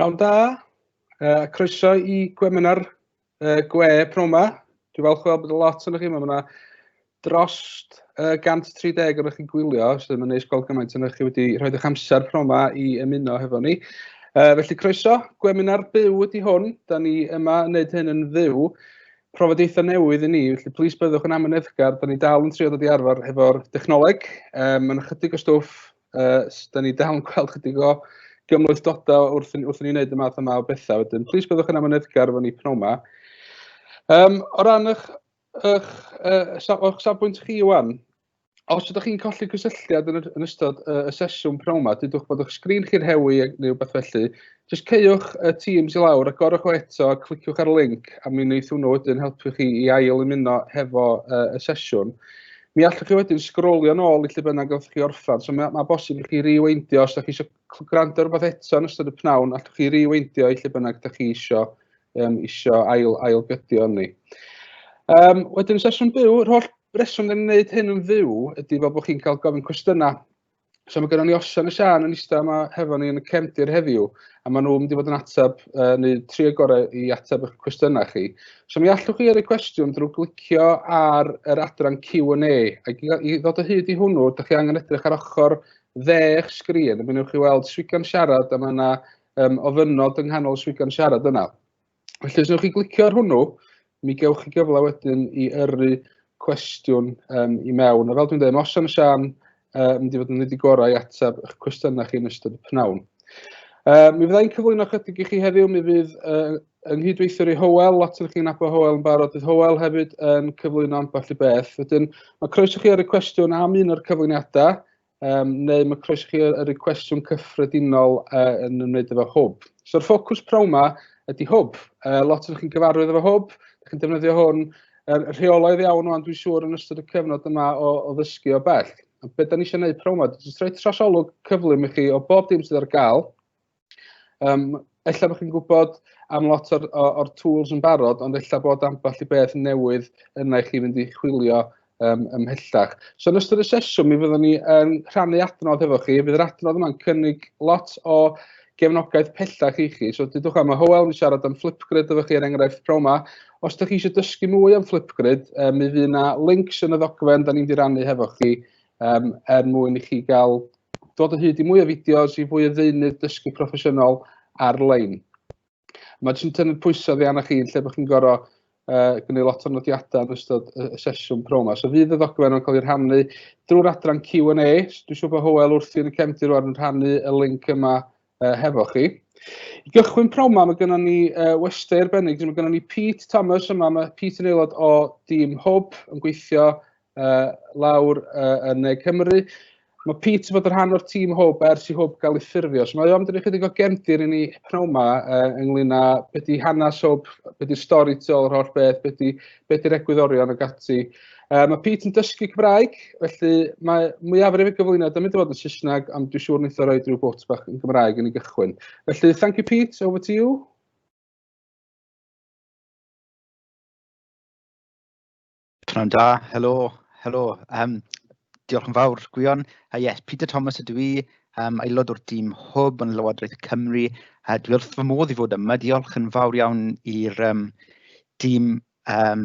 Pnawn da, uh, croeso i gweminar uh, gwe pnawn ma. Dwi'n falch gweld bod y lot yn chi, mae yna dros uh, 130 o'n chi'n gwylio, sydd yn neis gweld gymaint yn chi wedi rhoi eich amser pnawn ma i ymuno hefo ni. Uh, felly croeso, gweminar byw ydy hwn, da ni yma yn wneud hyn yn fyw. trafodaethau newydd i ni, felly plis byddwch yn amyneddgar, da ni dal yn trio dod i arfer hefo'r dechnoleg, um, mae'n ychydig o stwff, uh, da ni dal yn gweld chydig o gymhlethdodau wrth, wrth i ni wneud y math yma o bethau, wedyn plis byddwch yn amyneddgar efo ni pnawn yma. Um, o ran eich, eich, uh, o'ch safbwynt chi, Iwan, Os ydych chi'n colli cysylltiad yn, yn ystod uh, y sesiwn pnawn yma, dydwch bod eich sgrin chi'n hewi neu rhywbeth felly, jyst ceiwch y Teams i lawr a gorwch o eto, cliciwch ar y link a mi wneith hwnnw wedyn helpu chi i ail ymuno hefo uh, y sesiwn. Mi allwch chi wedyn sgrolio nôl i lle bynnag o'ch chi orffan, so mae, mae bosib i chi reweindio os ydych chi eisiau gwrando rhywbeth eto yn ystod y pnawn, allwch chi riweindio i lle bynnag ydych chi isio, um, isio ail, ail gydio ni. Um, wedyn y sesiwn byw, yr holl reswm ni'n gwneud hyn yn fyw ydy fel bod chi'n cael gofyn cwestiynau. So mae gennym ni Osian y Sian yn eistedd yma hefo ni yn y cefndir heddiw, a maen nhw'n mynd i fod yn ateb, uh, neu tri o gorau i ateb eich cwestiynau chi. So mi allwch chi yrru cwestiwn drwy glicio ar yr adran Q&A, ac i ddod o hyd i hwnnw, ydych chi angen edrych ar ochr dde eich sgrin, a mi wnewch chi weld swigan siarad, a mae yna um, ofynod yng nghanol swigan siarad yna. Felly, os wnewch chi glicio ar hwnnw, mi gewch chi gyfle wedyn i yrru cwestiwn um, i mewn. A fel dwi'n dweud, os am Sian, uh, mynd i fod yn nid i gorau i ateb eich cwestiynau chi yn ystod y pnawn. Uh, mi fyddai'n cyflwyno chydig i chi heddiw, mi fydd uh, yng nghydweithiwr i Howell, lot yn chi'n abo Howell yn barod, bydd Howell hefyd yn cyflwyno ambell i beth. Wedyn, mae croeso chi ar y cwestiwn am un o'r cyflwyniadau, um, neu mae croeso chi yr y cwestiwn cyffredinol uh, yn ymwneud efo hwb. So'r ffocws prawn yma ydy hwb. Uh, lot o'n chi'n gyfarwydd efo hwb, ydych chi'n defnyddio hwn er, rheolaidd iawn o'n dwi'n siŵr yn ystod y cyfnod yma o, o ddysgu o bell. A beth da ni eisiau gwneud prawn yma, jyst rhoi trasolwg cyflym i chi o bob dim sydd ar gael, Yym ella bod chi'n gwybod am lot o'r o o'r tools yn barod, ond ella bod ambell i beth newydd yna i chi fynd i chwilio yym ymhellach. So yn ystod y sesiwn mi fyddwn ni yn rhannu adnodd efo chi. Fydd yr adnodd yma'n cynnig lot o gefnogaeth pellach i chi. So dudwch am y Hywel, mi siarad am Flipgrid efo chi er enghraifft pnawn 'ma. Os ydych chi eisiau dysgu mwy am Flipgrid, yy mi fydd 'na links yn y ddogfen da ni'n mynd i rannu hefo chi yym er mwyn i chi gael dod o hyd i mwy o fideos, i fwy o ddeunydd dysgu proffesiynol ar-lein. Mae jyst yn tynnu'r pwysau oddi arnoch chi lle bod chi'n gorau uh, gwneud lot o nodiadau yn ystod y sesiwn pro yma. So fydd y ddogfen yn cael ei rhannu drwy'r adran Q&A. So dwi'n siŵr bod Howell wrthi yn y cefndir rwan yn rhannu y link yma uh, hefo chi. I gychwyn pnawn yma, mae gennym ni uh, westau arbennig. Mae gennym ni Pete Thomas yma. Mae Pete yn aelod o dîm Hwb yn gweithio uh, lawr uh, yn Ne Cymru. Mae Pete fod yn rhan o'r tîm Hwb ers i Hwb gael ei ffurfio. So mae o'n dweud ychydig o gefndir i ni pnawn yma uh, ynglyn â beth di hanes Hwb, beth di stori tu ôl yr holl beth, beth di'r egwyddorion ag ati. Yy mae Pete yn dysgu Cymraeg, felly mae mwyafrif y gyflwyniad yn mynd i fod yn Saesneg, ond dwi'n siŵr wnaeth o roi rhyw bwt bach yn Gymraeg yn ei gychwyn. Felly, thank you Pete, over to you. Pnawn da, helo, helo. Um, diolch yn fawr, Gwion. Uh, yes, Peter Thomas ydw i, um, aelod o'r dîm hwb yn Lywodraeth Cymru. Uh, dwi wrth fy modd i fod yma. Diolch yn fawr iawn i'r um, dîm um,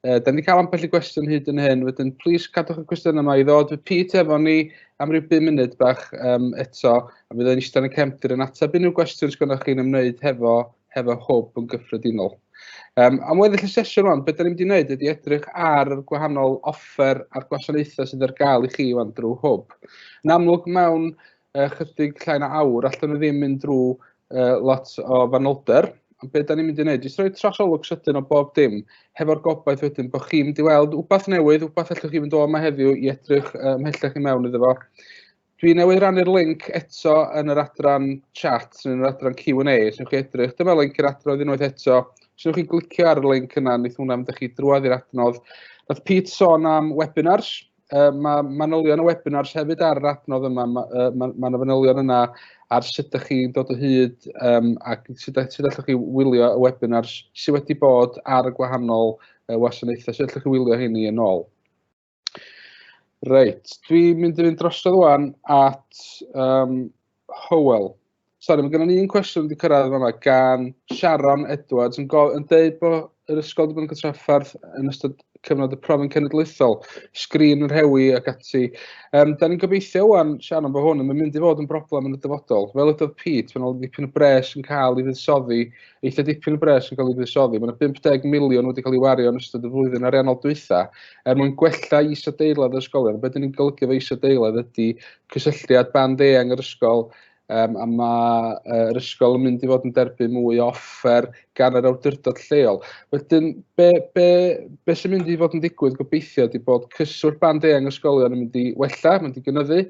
Uh, da ni wedi cael ambell i gwestiwn hyd yn hyn, wedyn plis cadwch y cwestiwn yma i ddod. Fe Pete efo ni am ryw 5 munud bach um, eto, a mi ddod eistedd yn y cefndir yn ateb unrhyw gwestiwn sy'n gynnwch chi'n ymwneud hefo, hefo hwb yn gyffredinol. Um, am weddill y sesiwn rwan, beth da ni wedi gwneud ydy edrych ar yr gwahanol offer a'r gwasanaethau sydd ar gael i chi wan drwy hwb. Yn amlwg mewn uh, chydig llai na awr, allan ni ddim mynd drwy uh, lot o fanylder. Ond beth da ni'n mynd i wneud? Jyst rhoi trasolwg sydyn o bob dim, hefo'r gobaith wedyn bod chi'n mynd i weld wbath newydd, wbath allwch chi fynd o yma heddiw i edrych uh, mhellach i mewn iddo fo. Dwi newydd rannu'r link eto yn yr adran chat, yn yr adran Q&A, sy'n chi edrych. Dyma link yr adrodd unwaith eto. Sy'n chi glicio ar y link yna, nid hwnna mynd chi drwad i'r adnodd. Roedd Pete sôn am webinars, uh, mae manylion y webinars hefyd ar yr adnodd yma, mae yna uh, ma, ma fanylion yna ar sut ydych chi'n dod o hyd um, ac sut, sut allwch chi wylio y webinars sydd wedi bod ar y gwahanol uh, wasanaethau, sut allwch chi wylio hynny yn ôl. Reit, dwi'n mynd i fynd drosodd wan at um, Hywel. Sori, mae gennym ni un cwestiwn wedi cyrraedd yma gan Sharon Edwards yn, yn dweud bod yr ysgol wedi bod yn gytraffarth yn ystod cyfnod y profyn cenedlaethol, sgrin yn rhewi ac ati. Um, da ni'n gobeithio wan, Sharon, bod hwn yn mynd i fod yn broblem yn y dyfodol. Fel ydodd Pete, mae'n ôl dipyn o bres yn cael ei ddisoddi, eitha dipyn o bres yn cael ei ddisoddi. Mae'n 50 miliwn wedi cael ei wario yn ystod y flwyddyn ariannol dwytha er mwyn gwella isadeiledd y ysgolion. Be dyn ni'n golygu fe isadeiledd ydy cysylltiad band eang yr ysgol um, a mae uh, yr ysgol yn mynd i fod yn derbyn mwy o offer gan yr awdurdod lleol. Wedyn, be, be, be sy'n mynd i fod yn digwydd gobeithio ydy bod cyswllt band eang ysgolion yn mynd i wella, mynd i gynyddu,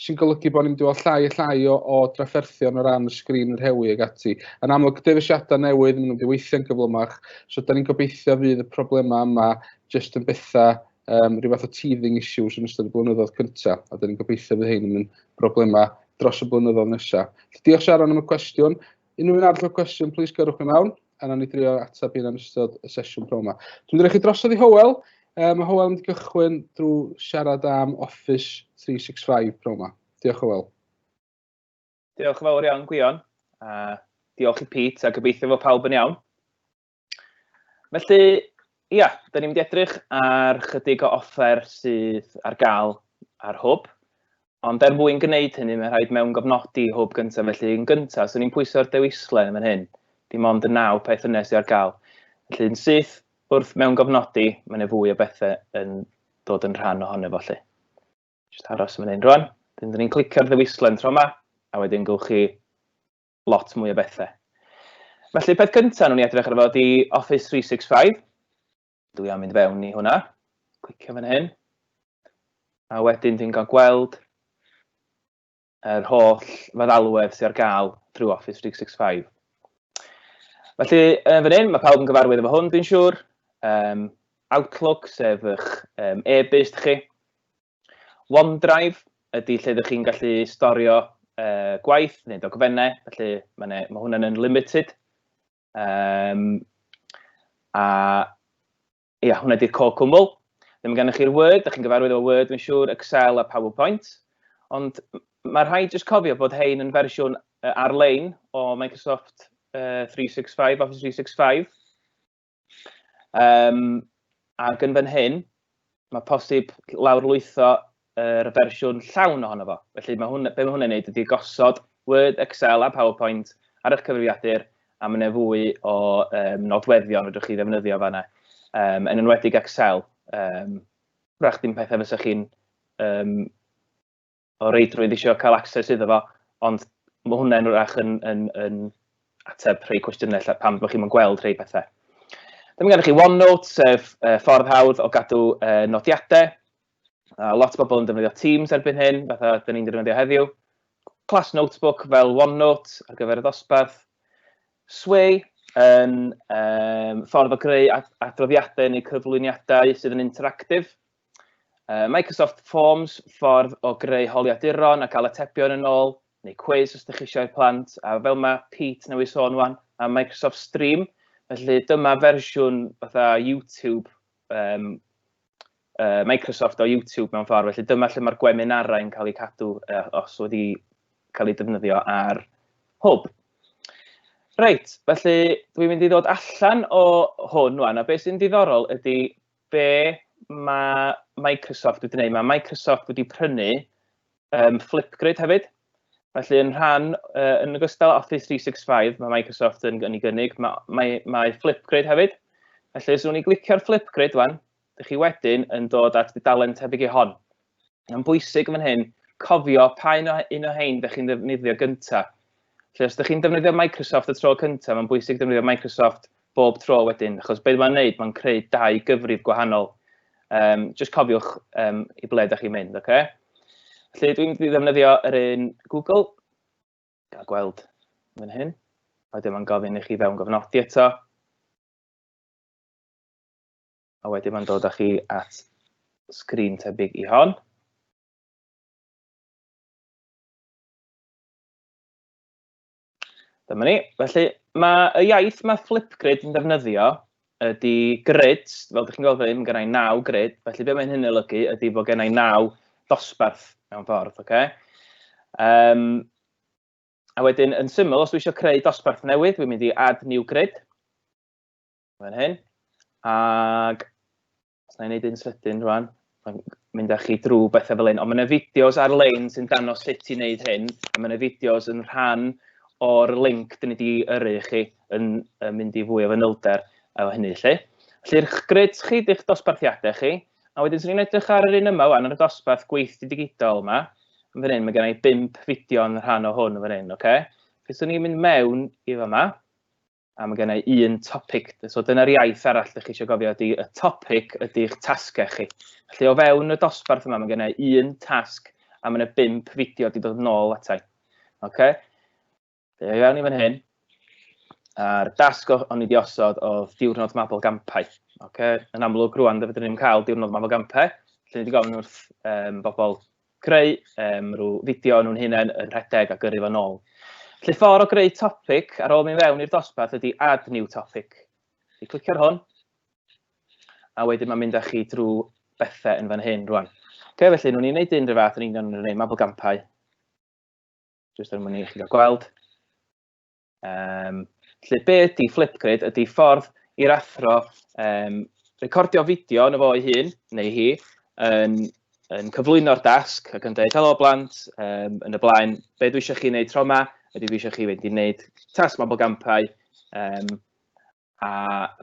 sy'n golygu bod ni'n mynd i fod llai a llai o, o drafferthion o ran y sgrin yr hewi ag ati. Yn amlwg, defisiadau newydd, maen nhw'n mynd i weithio'n gyflymach, so da ni'n gobeithio fydd y problemau yma jyst yn bethau um, rhywbeth o teething issues yn ystod y blynyddoedd cyntaf, a dyn ni'n gobeithio bydd hyn yn mynd broblemau dros y blynyddoedd nesaf. Diolch Sharon am y cwestiwn. Unrhyw un arall o cwestiwn, plis gyrwch yn awn, a na ni drio ateb un yn ystod y sesiwn pro yma. Dwi'n dweud chi drosodd i Howell, um, mae Howell yn mynd i gychwyn drwy siarad am Office 365 pro yma. Diolch Howell. Diolch yn fawr iawn, Gwion. A diolch i Pete, a gobeithio fod pawb yn iawn. Felly, ia, da ni'n mynd i edrych ar chydig o offer sydd ar gael ar hwb. Ond er mwyn gwneud hynny, mae'n rhaid mewn gofnodi hwb gyntaf. Felly, yn gyntaf, so ni'n pwyso'r dewislen yn fan hyn. Dim ond y naw peth yna sydd ar gael. Felly, yn syth wrth mewn gofnodi, mae yna fwy o bethau yn dod yn rhan ohono fo, lle. Just aros yn fan hyn rwan. Dyn ni'n clicio'r ddewislen tro yma, a wedyn gywch chi lot mwy o bethau. Felly, peth cyntaf nhw'n i edrych ar fo di Office 365. Dwi am mynd fewn i hwnna. Clicio fan hyn. A wedyn dwi'n cael gweld yr holl feddalwedd sy'n ar gael drwy Office 365. Felly, yn fan hyn, mae pawb yn gyfarwydd efo hwn, dwi'n siŵr. Um, Outlook, sef eich um, e-byst chi. OneDrive ydy lle ydych chi'n gallu storio uh, gwaith neu dogfennau, felly mae, mae hwnna'n unlimited. Um, a ia, hwnna ydy'r co cwmwl. Ddim gennych chi'r Word, ydych chi'n gyfarwydd o Word, mae'n siŵr, Excel a PowerPoint. Ond mae rhai jyst cofio bod hein yn fersiwn uh, ar-lein o Microsoft uh, 365, Office 365. Um, ac yn fan hyn, mae posib lawr lwytho yr er fersiwn llawn ohono fo. Felly mae hwn, be mae hwnna'n neud ydy gosod Word, Excel a PowerPoint ar eich cyfrifiadur a mae yna fwy o um, nodweddion rydych chi ddefnyddio fanna, um, yn enwedig Excel. Um, Rach dim pethau fysa chi'n um, o reidrwydd eisiau cael access iddo fo, ond mae hwnna'n wrach yn, yn, yn ateb rhai cwestiynau lle pam bod chi'n gweld rhai pethau. Dyma gennych chi OneNote, sef uh, ffordd hawdd o gadw uh, nodiadau. Uh, lot o bobl yn defnyddio Teams erbyn hyn, fatha dyn ni'n defnyddio heddiw. Class Notebook fel OneNote ar gyfer y ddosbarth. Sway yn um, ffordd o greu adroddiadau neu cyflwyniadau sydd yn interactif, Uh, Microsoft Forms, ffordd o greu holiaduron a cael atebion yn ôl, neu cwiz os ydych chi eisiau plant, a fel mae Pete newydd sôn wan, a Microsoft Stream, felly dyma fersiwn fatha YouTube, um, uh, Microsoft o YouTube mewn ffordd, felly dyma lle mae'r gweminarau yn cael eu cadw uh, os wedi cael ei defnyddio ar hwb. Reit, felly dwi'n mynd i ddod allan o hwn wan, a beth sy'n diddorol ydy be mae Microsoft wedi gwneud? Mae Microsoft wedi prynu um, Flipgrid hefyd. Felly yn rhan, uh, yn ogystal Office 365, mae Microsoft yn, yn ei gynnig, mae, mae, mae Flipgrid hefyd. Felly os yw'n i glicio'r Flipgrid wan, ydych chi wedyn yn dod at dudalen tebyg i hon. Mae'n bwysig yn fan hyn cofio pa un o, un o hyn ydych chi'n ddefnyddio gyntaf. Felly os ydych chi'n defnyddio Microsoft y tro cyntaf, mae'n bwysig defnyddio Microsoft bob tro wedyn, achos beth mae'n neud, mae'n creu dau gyfrif gwahanol. Um, just cofiwch um, i ble ydych chi'n mynd, oce? Okay? Felly dwi'n mynd i ddefnyddio yr un Google, gael gweld yn hyn. Wedyn mae'n gofyn i chi fewn gofnodi eto. A wedyn mae'n dod â chi at sgrin tebyg i hon. Dyma ni. Felly, mae y iaith mae Flipgrid yn defnyddio ydy grid, fel ydych chi'n gweld fan hyn, gennau naw grid, felly be mae'n hyn olygu ydy bod gennau naw dosbarth mewn ffordd, oce? Okay? Um, a wedyn, yn syml, os dwi eisiau creu dosbarth newydd, dwi'n mynd i add new grid. fan hyn. Ac os na i wneud un sydyn rwan, mynd â chi drwy bethau fel hyn. Ond mae yna fideos ar-lein sy'n danos sut i wneud hyn. A mae yna fideos yn rhan o'r link dyn ni wedi yrru chi yn, yn mynd i fwy o fanylder o hynny lle. Lly'r gred chi ddech dosbarthiadau chi, a wedyn sy'n ni'n edrych ar yr un yma wan, ar y dosbarth gweithdy digidol yma, yn fan hyn, mae gennau bimp fideo yn rhan o hwn yn fan hyn, oce? Okay? Felly, so ni'n mynd mewn i fa yma, a mae gen i un topic. So dyna'r iaith arall ydych chi eisiau gofio ydy y topic ydy'ch tasgau chi. Felly o fewn y dosbarth yma mae gen i un tasg a mae yna bimp fideo wedi dod nôl atai. Okay? Fe i fewn i fan hyn. A'r dasg o'n i wedi osod oedd diwrnod mabel gampau. Okay? Yn amlwg rwan, fe fydden ni'n cael diwrnod mabel gampau. Felly ni wedi gofyn wrth um, bobl creu um, rhyw fideo nhw'n hunain yn rhedeg a gyrru fo'n ôl. Lle ffordd o greu topic ar ôl mynd fewn i'r dosbarth ydy add new topic. Fi clicio ar hwn, a wedyn mae'n mynd â chi drwy bethau yn fan hyn rwan. Ok, felly, nhw'n i'n gwneud un rhyw fath yn union yn gwneud mabel gampau. Jyst er mwyn i chi gael gweld. Um, felly, be ydy Flipgrid? Ydy ffordd i'r athro um, recordio fideo yn y fo ei hun, neu hi, yn, yn cyflwyno'r dasg ac yn dweud, helo blant, um, yn y blaen, be dwi eisiau chi wneud tro yma? Ydy dwi eisiau chi fynd i wneud tasg mabel gampau? Um, a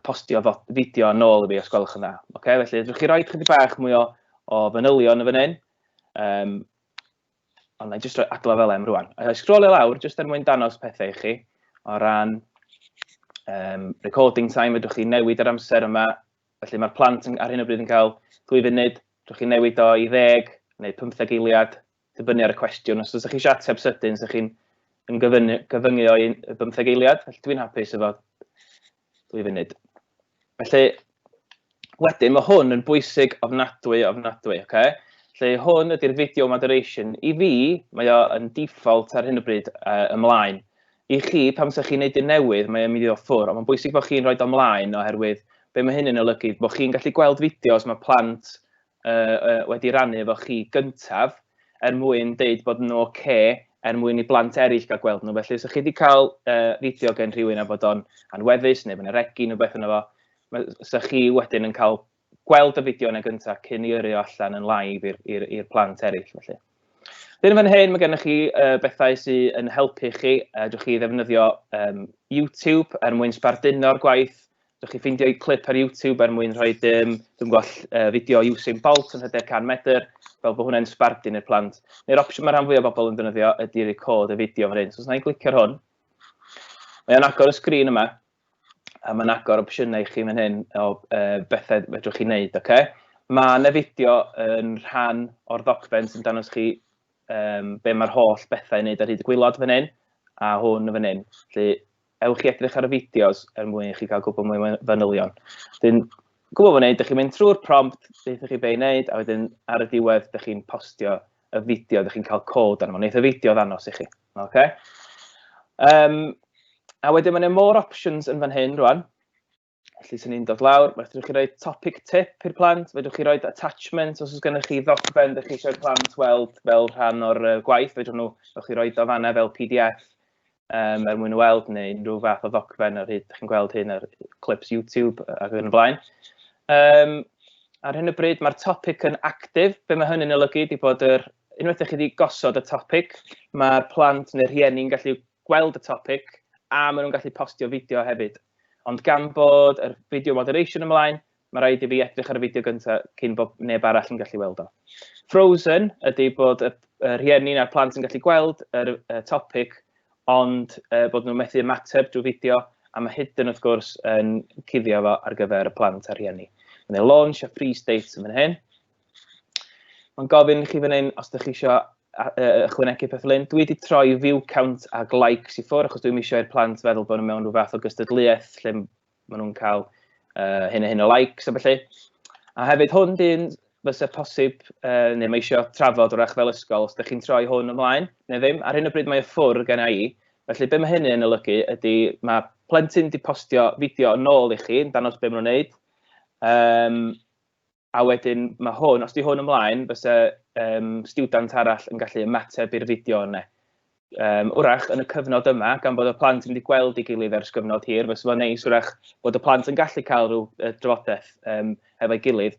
postio fideo yn ôl i fi os gwelwch yn dda. Okay? Felly, ydych chi roi chydig bach mwy o, o fanylion y fan hyn. Um, ond na i jyst roi adla fel em rwan. A scrollio lawr, jyst er mwyn danos pethau i chi, o ran um, recording time, ydych chi newid yr amser yma. Felly mae'r plant yn, ar hyn o bryd yn cael 2 funud, ydych chi newid o i ddeg neu 15 eiliad, dibynnu ar y cwestiwn. Os ydych chi eisiau ateb sydyn, ydych chi'n yn gyfyngu, gyfyngu o'i bymtheg eiliad, felly dwi'n hapus efo dwy funud. Felly, wedyn, mae hwn yn bwysig ofnadwy, ofnadwy, oce? Okay? Felly, hwn ydy'r video moderation. I fi, mae o yn default ar hyn o bryd uh, ymlaen. I chi, pam sy'ch chi'n neud un newydd, mae'n mynd i ddod ffwr, ond mae'n bwysig bod chi'n rhoi ymlaen oherwydd be mae hyn yn olygu, bod chi'n gallu gweld fideos mae plant wedi rannu efo chi gyntaf er mwyn deud bod nhw'n ok er mwyn i blant eraill gael gweld nhw. Felly, os ydych chi wedi cael uh, fideo gen rhywun a bod o'n anweddus neu bod yna regi neu beth yna fo, os ydych chi wedyn yn cael gweld y fideo yna gyntaf cyn i yrru allan yn live i'r plant eraill. Felly. Dyn fan hyn, mae gennych chi uh, bethau sydd yn helpu chi. Uh, dwch chi ddefnyddio um, YouTube er mwyn sbarduno'r gwaith. Dwch chi ffeindio i clip ar YouTube er mwyn rhoi dim, dwi'n gweld uh, fideo Usain Bolt yn hyder 100 metr, fel bod hwnna'n sbardun i'r plant. Neu'r opsiwn mae rhan fwy o bobl yn defnyddio ydy record y fideo fan hyn. So os na i'n glicio'r hwn, mae o'n agor y sgrin yma, A mae'n agor opsiynau i chi fan hyn o uh, bethau fedrwch chi wneud, oce? Okay? Mae yna fideo yn rhan o'r ddogfen sy'n danos chi um, be mae'r holl bethau i wneud ar hyd y gwylod fan hyn, a hwn fan hyn. Felly, ewch i edrych ar y fideos er mwyn i chi gael gwybod mwy fanylion. Dyn, gwybod fan hyn, ydych chi'n mynd trwy'r prompt, ydych chi be i wneud, a wedyn ar y diwedd, ydych chi'n postio y fideo, ydych chi'n cael cod arno. Wneud y fideo ddanos i chi. Ok. Um, a wedyn mae'n yna more options yn fan hyn rwan. Felly sy'n ni'n dod lawr, mae'n ddech chi roi topic tip i'r plant, mae'n ddech chi roi attachment os oes gennych chi ddogfen ddech chi eisiau'r plant weld fel rhan o'r uh, gwaith, mae'n nhw, ddech chi roi do fanna fel PDF um, er mwyn y weld neu unrhyw fath o ddogfen ar hyd, ddech chi'n gweld hyn ar clips YouTube ac yn y blaen. Um, ar hyn o bryd mae'r topic yn actif. Be mae hynny'n olygu ydy bod yr Unwaith ydych chi wedi gosod y topic, mae'r plant neu'r rhieni'n gallu gweld y topic a maen nhw'n gallu postio fideo hefyd. Ond gan bod yr video moderation ymlaen, mae rhaid i fi edrych ar y fideo gyntaf cyn bod neb arall yn gallu weld o. Frozen ydy bod y rhieni a'r plant yn gallu gweld yr topic ond bod nhw'n methu ymateb drwy fideo a mae hyd yn wrth gwrs yn cuddio fo ar gyfer y plant a'r rhieni. Mae'n ei launch a free state yn fan hyn. Mae'n gofyn i chi fan hyn os ydych chi eisiau ychwanegu peth lyn. Dwi wedi troi view count a likes i ffwrdd achos dwi'n eisiau i'r plant feddwl bod nhw mewn rhyw fath o gystadleuaeth lle maen nhw'n cael uh, hyn a hyn o likes a felly. A hefyd hwn dyn fysa posib, uh, neu mae eisiau trafod o'r fel ysgol, os ydych chi'n troi hwn ymlaen, neu ddim, ar hyn o bryd mae y ffwrdd gen i, felly be mae hynny yn olygu ydy mae plentyn wedi postio fideo yn ôl i chi, yn danos beth maen nhw'n gwneud, um, A wedyn mae hwn, os di hwn ymlaen, bysa um, student arall yn gallu ymateb i'r fideo yna. Um, wrach, yn y cyfnod yma, gan bod y plant yn mynd i gweld ei gilydd ers gyfnod hir, fysa fo'n neis wrach bod y plant yn gallu cael rhyw uh, drafodaeth um, hefo'i gilydd.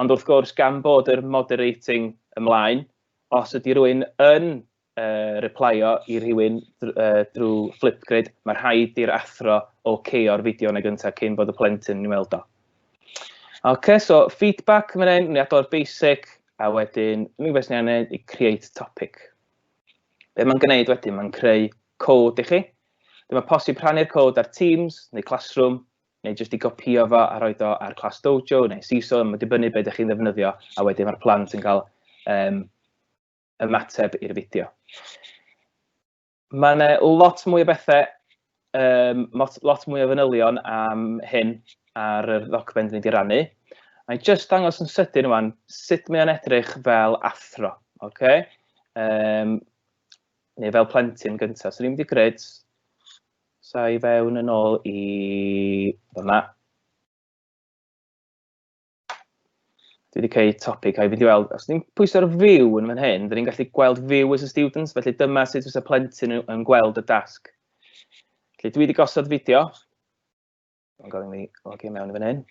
Ond wrth gwrs, gan bod yr moderating ymlaen, os ydy rhywun yn uh, replio i rhywun uh, drwy Flipgrid, mae rhaid i'r athro OK o'r fideo yn y gyntaf cyn bod y plentyn yn weld o. Ok, so feedback mae'n ein, ni adol basic, a wedyn, ni beth ni'n ei i create topic. Be mae'n gwneud wedyn, mae'n creu cod i chi. Dyma posib rhannu'r cod ar Teams neu Classroom, neu jyst i gopio fo a rhoi do ar Class Dojo neu CISO, mae'n dibynnu beth ydych chi'n ddefnyddio, a wedyn mae'r plant yn cael um, ymateb i'r fideo. Mae yna lot mwy o bethau, um, lot, lot mwy o fanylion am hyn ar yr ddogfen dwi wedi rannu. Mae'n just dangos yn sydyn yma'n sut mae'n edrych fel athro, okay? um, neu fel plentyn gyntaf. So ni'n mynd i gred, sa i fewn yn ôl i fyma. Dwi wedi creu topic a i fynd i weld, os ni'n pwysau'r fyw yn fan hyn, dyn ni'n gallu gweld fyw as a students, felly dyma sut fysa plentyn yn gweld y dasg. Felly dwi wedi gosod fideo. Mae'n gofyn mi logio mewn i fan hyn.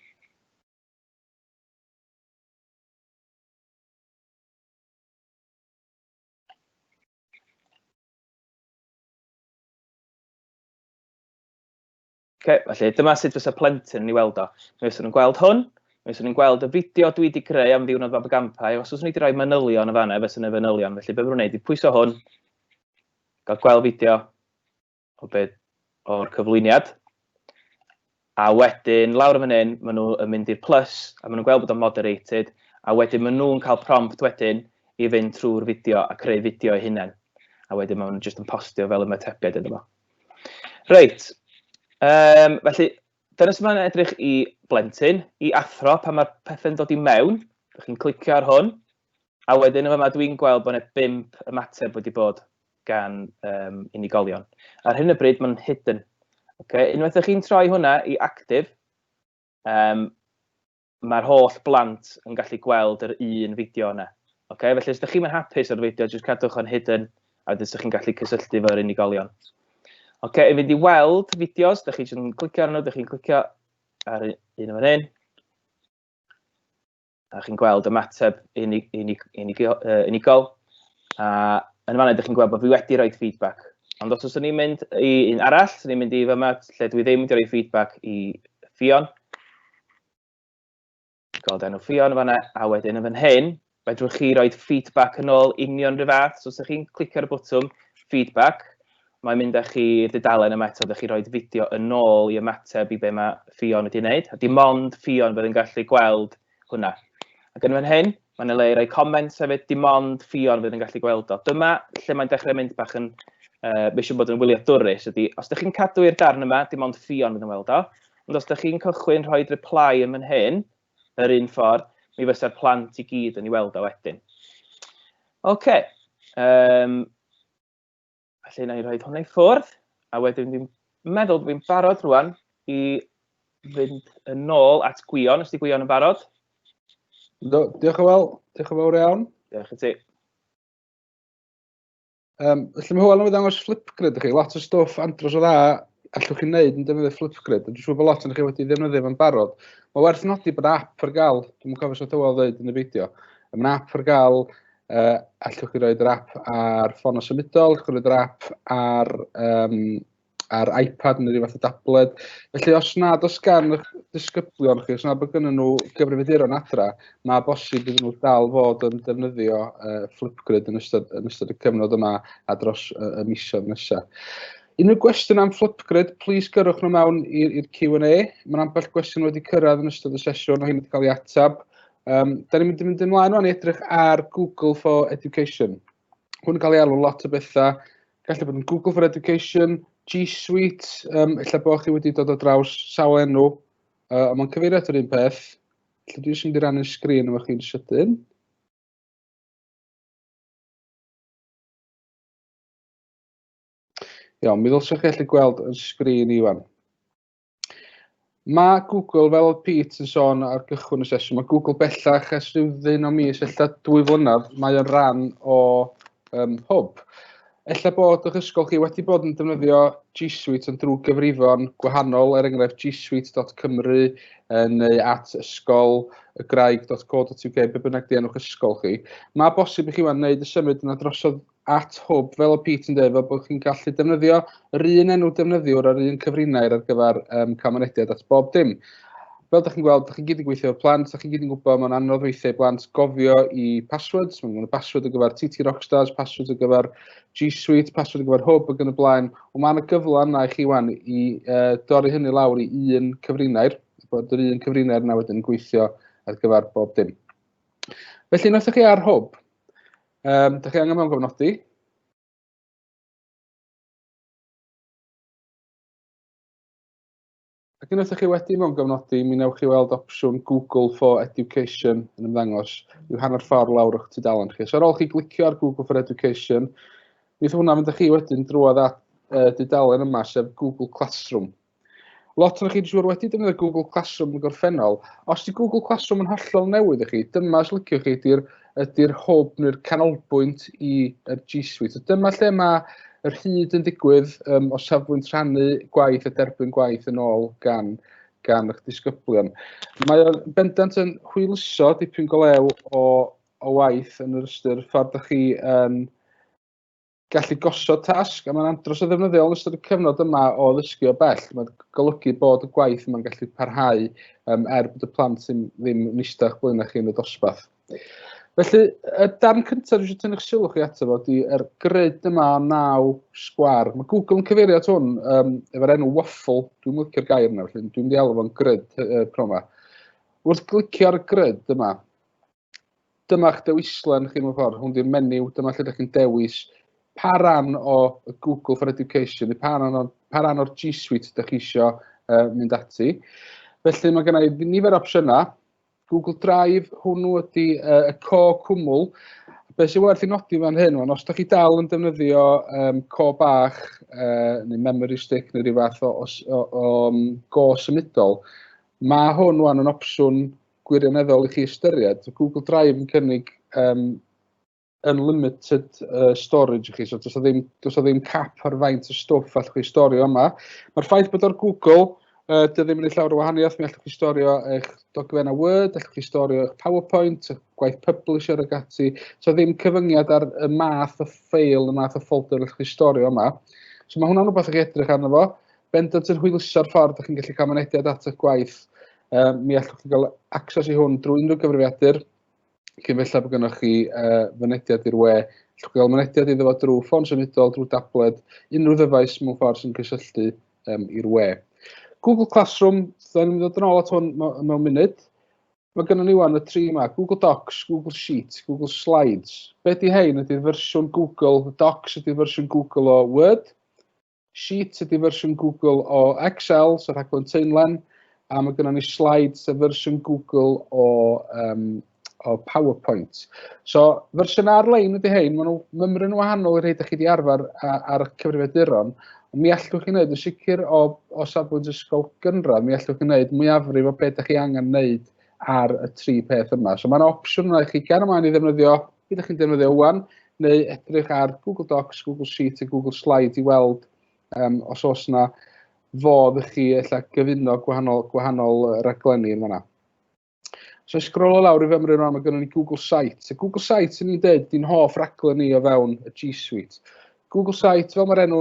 Okay, felly, dyma sut fysa plentyn yn ei weld o. Mi fysa nhw'n gweld hwn, mi fysa nhw'n gweld y fideo dwi wedi greu am ddiwrnod fab y gampau, os oes ni wedi rhoi manylion y fanna, fysa nhw'n fanylion. Felly, beth mae'n gwneud i pwyso hwn, gael gweld fideo o beth o'r cyflwyniad, a wedyn lawr y fan hyn, maen nhw yn mynd i'r plus, a maen nhw'n gweld bod o'n moderated, a wedyn maen nhw'n cael prompt wedyn i fynd trwy'r fideo a creu fideo eu hunain. A wedyn maen nhw'n jyst yn postio fel ymatebiad iddo fo. Reit, um, felly, dyna sy'n ymlaen edrych i blentyn, i athro pan mae'r pethau'n dod i mewn. Dych chi'n clicio ar hwn, a wedyn yma dwi'n gweld bod yna bimp ymateb wedi bod gan um, unigolion. Ar hyn o bryd mae'n hidden. Okay? Unwaith ydych chi'n troi hwnna i active, um, mae'r holl blant yn gallu gweld yr un fideo yna. Okay? Felly, os ydych chi'n hapus o'r fideo, jyst cadwch o'n hidden, a wedyn ydych chi'n gallu cysylltu fo'r unigolion. Okay, i fynd i weld fideos, ydych chi'n clicio arno, ydych chi'n clicio ar un o'n hyn. A chi'n gweld y mateb unig, unig, unig, uh, unigol. A yn fanna, ydych chi'n gweld bod fi wedi rhoi feedback. Ond os ydych chi'n mynd i un arall, ydych chi'n mynd i fyma lle dwi ddim wedi rhoi feedback i Fion, Gweld enw Ffion yn fanna, a wedyn yn fan hyn, fedrwch chi roi feedback yn ôl union rhyw fath, so os ydych chi'n clicio ar y bwtwm feedback, mae'n mynd â chi i'r dudalen yma eto, ydych chi roi fideo yn ôl i ymateb i be mae Ffion wedi wneud, a dim ond Ffion fydd yn gallu gweld hwnna. Ac yn fan hyn, mae'n y le i roi comments hefyd, dim ond Ffion fydd yn gallu gweld o. Dyma lle mae'n dechrau mynd bach yn uh, mae eisiau bod yn wyliadwrus ydy, os ydych chi'n cadw i'r darn yma, dim ond ffion fydd yn weld o, Ond os ydych chi'n cychwyn rhoi reply yn fan hyn, yr un ffordd, mi fysa'r plant i gyd yn ei weld o wedyn. Oce. Okay. Um, felly, na i roi hwnna i ffwrdd, a wedyn fi'n meddwl bod fi'n barod rwan i fynd yn ôl at Gwion, os di Gwion yn barod. Do, diolch yn fawr, diolch yn fawr iawn. Diolch i ti. Um, felly mae Hywel yn ddangos Flipgrid i chi, lot o stwff andros o dda allwch chi'n neud yn defnyddio Flipgrid. Dwi'n siŵr bod lot yn chi wedi ddefnyddio fo'n barod. Mae werth nodi bod app ar gael, dwi'n cofio sut Hywel ddweud yn y fideo, mae app ar gael, uh, allwch chi roed yr app ar ffôn o symudol, allwch chi roed yr app ar um, ar iPad neu rhyw fath o dabled. Felly os nad os gan eich disgyblion chi, os nad bod gynnyn nhw gyfrifiaduron adra, mae bosib iddyn nhw dal fod yn defnyddio uh, Flipgrid yn ystod, yn ystod y cyfnod yma a dros uh, y misoedd nesaf. Unrhyw gwestiwn am Flipgrid, plis gyrwch nhw mewn i'r Q&A. Mae'n ambell gwestiwn wedi cyrraedd yn ystod y sesiwn o hyn wedi cael ei atab. Um, da ni'n mynd i fynd ymlaen o'n edrych ar Google for Education. hwn yn cael ei alw lot o bethau. Gallu bod yn Google for Education, G Suite, um, illa bod chi wedi dod o draws sawl enw, uh, ond mae'n cyfeirio at yr un peth. Lle dwi eisiau mynd i rannu'r sgrin efo chi'n sydyn. Iawn, mi ddylswch chi allu gweld yn sgrin i wan. Mae Google, fel oedd Pete yn sôn ar gychwyn y sesiwn, mae Google bellach ers rhyw ddyn o mis, ella dwy flynedd, mae o'n rhan o um, hwb. Ella bod o'ch ysgol chi wedi bod yn defnyddio G Suite yn drwy gyfrifon gwahanol, er enghraifft gsuite.cymru neu at ysgol y graig.co.uk, be bynnag di enwch ysgol chi. Mae bosib i chi wneud y symud yna drosodd at hwb, fel o Pete yn dweud, fel bod chi'n gallu defnyddio yr un enw defnyddiwr a'r un cyfrinair ar gyfer um, camonediad at bob dim. Fel ydych chi'n gweld, ydych chi'n gyd yn gweithio efo plant, ydych chi'n gyd yn gwybod mae'n anodd weithiau blant gofio i passwords, mae'n gwneud password ar gyfer TT Rockstars, password ar gyfer G Suite, password ar gyfer Hub ac yn y blaen. Ond mae yna gyfle yna i chi wan i uh, dorri hynny lawr i un cyfrinair, bod yr un cyfrinair yna wedyn yn gweithio ar gyfer bob dim. Felly, wnaethoch chi ar Hub, Yym dach chi angen mewn cofnodi. Ac unwaith dach chi wedi mewn gofnodi, mi wnewch chi weld opsiwn Google for Education yn ymddangos i'w hanner ffordd lawr o'ch tudalen chi. So ar ôl chi glicio ar Google for Education, mi wnaeth hwnna fynd â chi wedyn drwodd at uh, dudalen yma, sef Google Classroom. Lot o'n chi dwi'n siŵr wedi defnyddio Google Classroom yn y gorffennol. Os di Google Classroom yn hollol newydd i chi, dyma os liciwch chi ydy'r ydy hwb neu'r canolbwynt i'r G Suite. So dyma lle mae yr hyd yn digwydd um, o safbwynt rhannu gwaith a derbyn gwaith yn ôl gan, gan eich disgyblion. Mae o'n bendant yn hwyluso dipyn golew o, o waith yn yr ystyr ffordd ydych chi yn um, gallu gosod tasg, a mae'n andros o ddefnyddiol yn ystod y cyfnod yma o ddysgu o bell. Mae'n golygu bod y gwaith yma'n gallu parhau um, er bod y plant ddim, ddim yn eistedd o'ch blaen chi yn y dosbarth. Felly, y darn cyntaf dwi'n tynnu'ch sylw chi ato fo, di er grid yma o naw sgwar. Mae Google yn cyfeirio at hwn um, efo'r enw waffle, dwi'n licio'r gair yna, felly dwi'n mynd i alw fo'n grid uh, pro yma. Wrth glicio ar y grid yma, dyma'ch dewislen chi mewn ffordd, hwn di'r menyw, dyma lle ydych chi'n dewis pa ran o Google for Education, neu pa ran o'r, pa ran o'r G Suite ydych chi eisiau uh, mynd ati. Felly mae gennau nifer opsiynau. Google Drive, hwnnw ydy uh, y co cwmwl. Be sy'n werth i nodi fan hyn, wan, os ydych chi dal yn defnyddio um, co bach, uh, neu memory stick, neu rhyw fath o, o, o, o um, go symudol, mae hwn wan yn opsiwn gwirioneddol i chi ystyried. Google Drive yn cynnig um, unlimited uh, storage i chi, so does ddim, does ddim cap ar faint o stwff allwch chi storio yma. Mae'r ffaith bod o'r Google, uh, dy ddim yn ei llawer o wahaniaeth, mi allwch chi storio eich dogfennau Word, allwch chi storio eich PowerPoint, eich gwaith publisher ag ati, so ddim cyfyngiad ar y math o ffeil, y math o folder allwch chi storio yma. So mae hwnna'n rhywbeth i'ch edrych arno fo. Bendant yn hwyluso'r ffordd ydych chi'n gallu cael mynediad at eich gwaith uh, mi allwch chi gael access i hwn drwy unrhyw gyfrifiadur, cyn felly bod gennych chi uh, fynediad i'r we. Allwch chi gael mynediad iddo fo drwy ffôn symudol, drwy dabled, unrhyw ddyfais mewn ffordd sy'n cysylltu um, i'r we. Google Classroom, da ni'n dod yn ôl at hwn mewn munud. Mae gennym ni wan y tri yma, Google Docs, Google Sheets, Google Slides. Be di hein? Ydy'r fersiwn Google Docs, ydy'r fersiwn Google o Word. Sheet ydy fersiwn Google o Excel, so rhaglen teunlen, a mae gennym ni slide sef fersiwn Google o, um, o PowerPoint. So, fersiwn ar-lein ydy hein, maen nhw mymryn yn wahanol i rhaid ydych chi wedi arfer ar y cyfrifiaduron, ond mi allwch chi wneud yn sicr o, o safbwynt ysgol gynradd, mi allwch chi wneud mwyafrif o beth ydych chi angen wneud ar y tri peth yma. So mae'n opsiwn yna i chi gan ymlaen i ddefnyddio, beth ydych chi'n defnyddio wan, neu edrych ar Google Docs, Google Sheet a Google Slide i weld um, os oes yna fodd i chi ella gyfuno gwahanol, gwahanol raglenni yn fanna. So i sgrolo lawr i fymryn rhan, mae gennym ni Google Sites. A Google Sites yn ni'n dweud, di'n hoff raglen ni o fewn y G Suite. Google Site, fel mae'r enw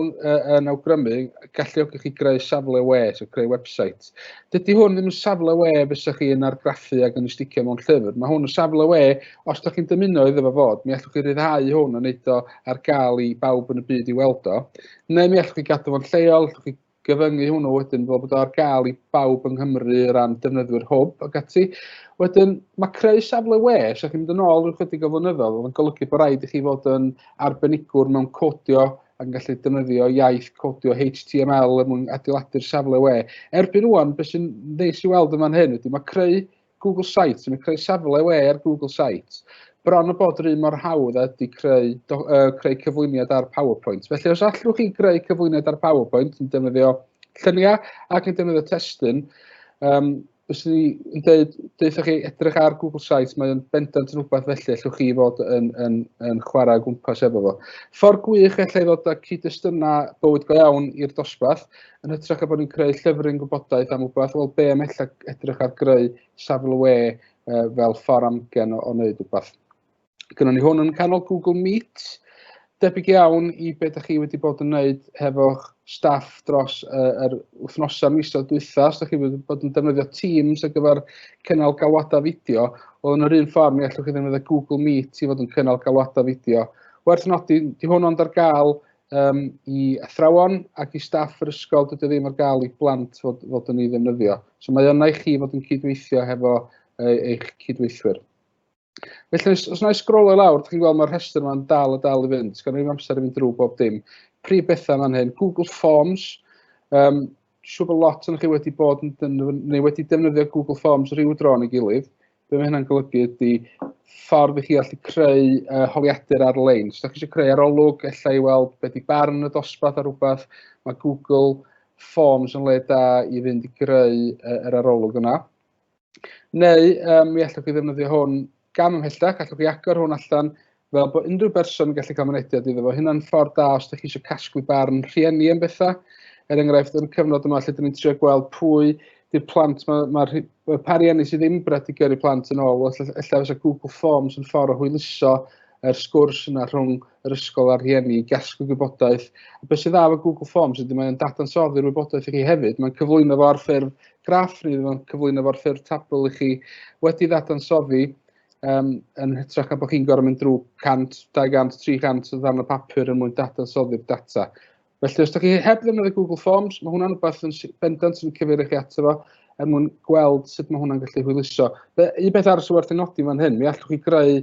yn awgrymu, galluogi chi greu safle we, so creu website. Dydy hwn ddim yn safle we fysa chi yn argraffu ac yn ysticio mewn llyfr. Mae hwn yn safle we, os da chi'n dymuno iddo fe fod, mi allwch chi ryddhau hwn yn eiddo ar gael i bawb yn y byd i weld o. Neu mi allwch chi gadw fo'n lleol, allwch chi gyfyngu hwnnw wedyn fel bod o ar gael i bawb yng Nghymru o ran defnyddwyr hwb ac ati. Wedyn, mae creu safle we, os ydych chi'n mynd yn ôl rhyw chydig o flynyddoedd, oedd yn golygu bod rhaid i chi fod yn arbenigwr mewn codio ac yn gallu defnyddio iaith codio HTML er mwyn adeiladu'r safle we. Erbyn rwan, beth sy'n ddeis i weld yn fan hyn ydy mae creu Google Sites, yn creu safle we ar Google Sites, bron o bod yr un mor hawdd a ydy creu, do, uh, creu cyflwyniad ar PowerPoint. Felly os allwch chi greu cyflwyniad ar PowerPoint yn defnyddio lluniau ac yn defnyddio testyn, um, os ni yn dweud, dweud chi edrych ar Google Sites, mae'n bendant yn rhywbeth felly allwch chi fod yn, yn, yn chwarae gwmpas efo fo. Ffordd gwych allai ddod â cyd-destynau bywyd go iawn i'r dosbarth, yn hytrach a bod ni'n creu llyfryn gwybodaeth am rhywbeth, wel be am ella edrych ar greu safle we uh, fel ffordd amgen o, o wneud rhywbeth. Gynno ni hwn yn canol Google Meet, debyg iawn i be da chi wedi bod yn wneud hefo'ch staff dros uh, yr wythnosau misoedd dwytha, os da chi wedi bod yn defnyddio Teams ar gyfer cynnal galwadau fideo, oedd yn yr un ffordd mi allwch chi ddefnyddio Google Meet i fod yn cynnal galwadau fideo. Werth nodi, di hwn ond ar gael um, i athrawon ac i staff yr ysgol, dydy ddim ar gael i blant fod, fod yn ei ddefnyddio. So mae yna i chi fod yn cydweithio hefo e, eich cydweithwyr. Felly, os, os na i sgrolio lawr, ydych chi'n gweld mae'r rhestr yma'n dal a dal i fynd. Gan ddim amser i fynd drwy bob dim. Prif bethau fan hyn, Google Forms, um, siŵr bod lot o'n chi wedi bod yn defnyddio, neu wedi defnyddio Google Forms rhyw dro yn ei gilydd. Be mae hynna'n golygu ydy ffordd i chi allu creu uh, holiadur ar-lein. Os ydych chi eisiau creu arolwg, efallai i weld beth i barn y dosbarth ar rhywbeth, mae Google Forms yn le da i fynd i greu uh, yr arolwg yna. Neu yym mi allwch chi ddefnyddio hwn gam ymhellach, allwch chi agor hwn allan fel bod unrhyw berson yn gallu cael mynediad iddo fo. Hynna'n ffordd da os ydych chi eisiau casglu barn rhieni am bethau. Er enghraifft, yn y cyfnod yma lle dyn ni'n trio gweld pwy di'r plant, mae'r ma, ma pa rieni sydd ddim bred i gyrru plant yn ôl, efallai fysa Google Forms yn ffordd o hwyluso yr sgwrs yna rhwng yr ysgol a'r rhieni, gasglu gwybodaeth. A beth sydd dda efo Google Forms ydy mae'n dadansoddi'r wybodaeth i chi hefyd, mae'n cyflwyno fo ar ffurf graff ni ddim yn cyflwyno fo'r ffurf tabl i chi wedi ddadansoddi um, yn hytrach na bod chi'n gorfod mynd drwy 100, 200, 300 o ddarn o papur yn mwyn dadansoddi'r data. Felly, os ydych chi heb ddefnyddio Google Forms, mae hwnna'n rhywbeth yn bendant yn cyfeirio chi ato fo er mwyn gweld sut mae hwnna'n gallu hwyluso. Be, un beth arall sy'n werth ei nodi fan hyn, mi allwch chi greu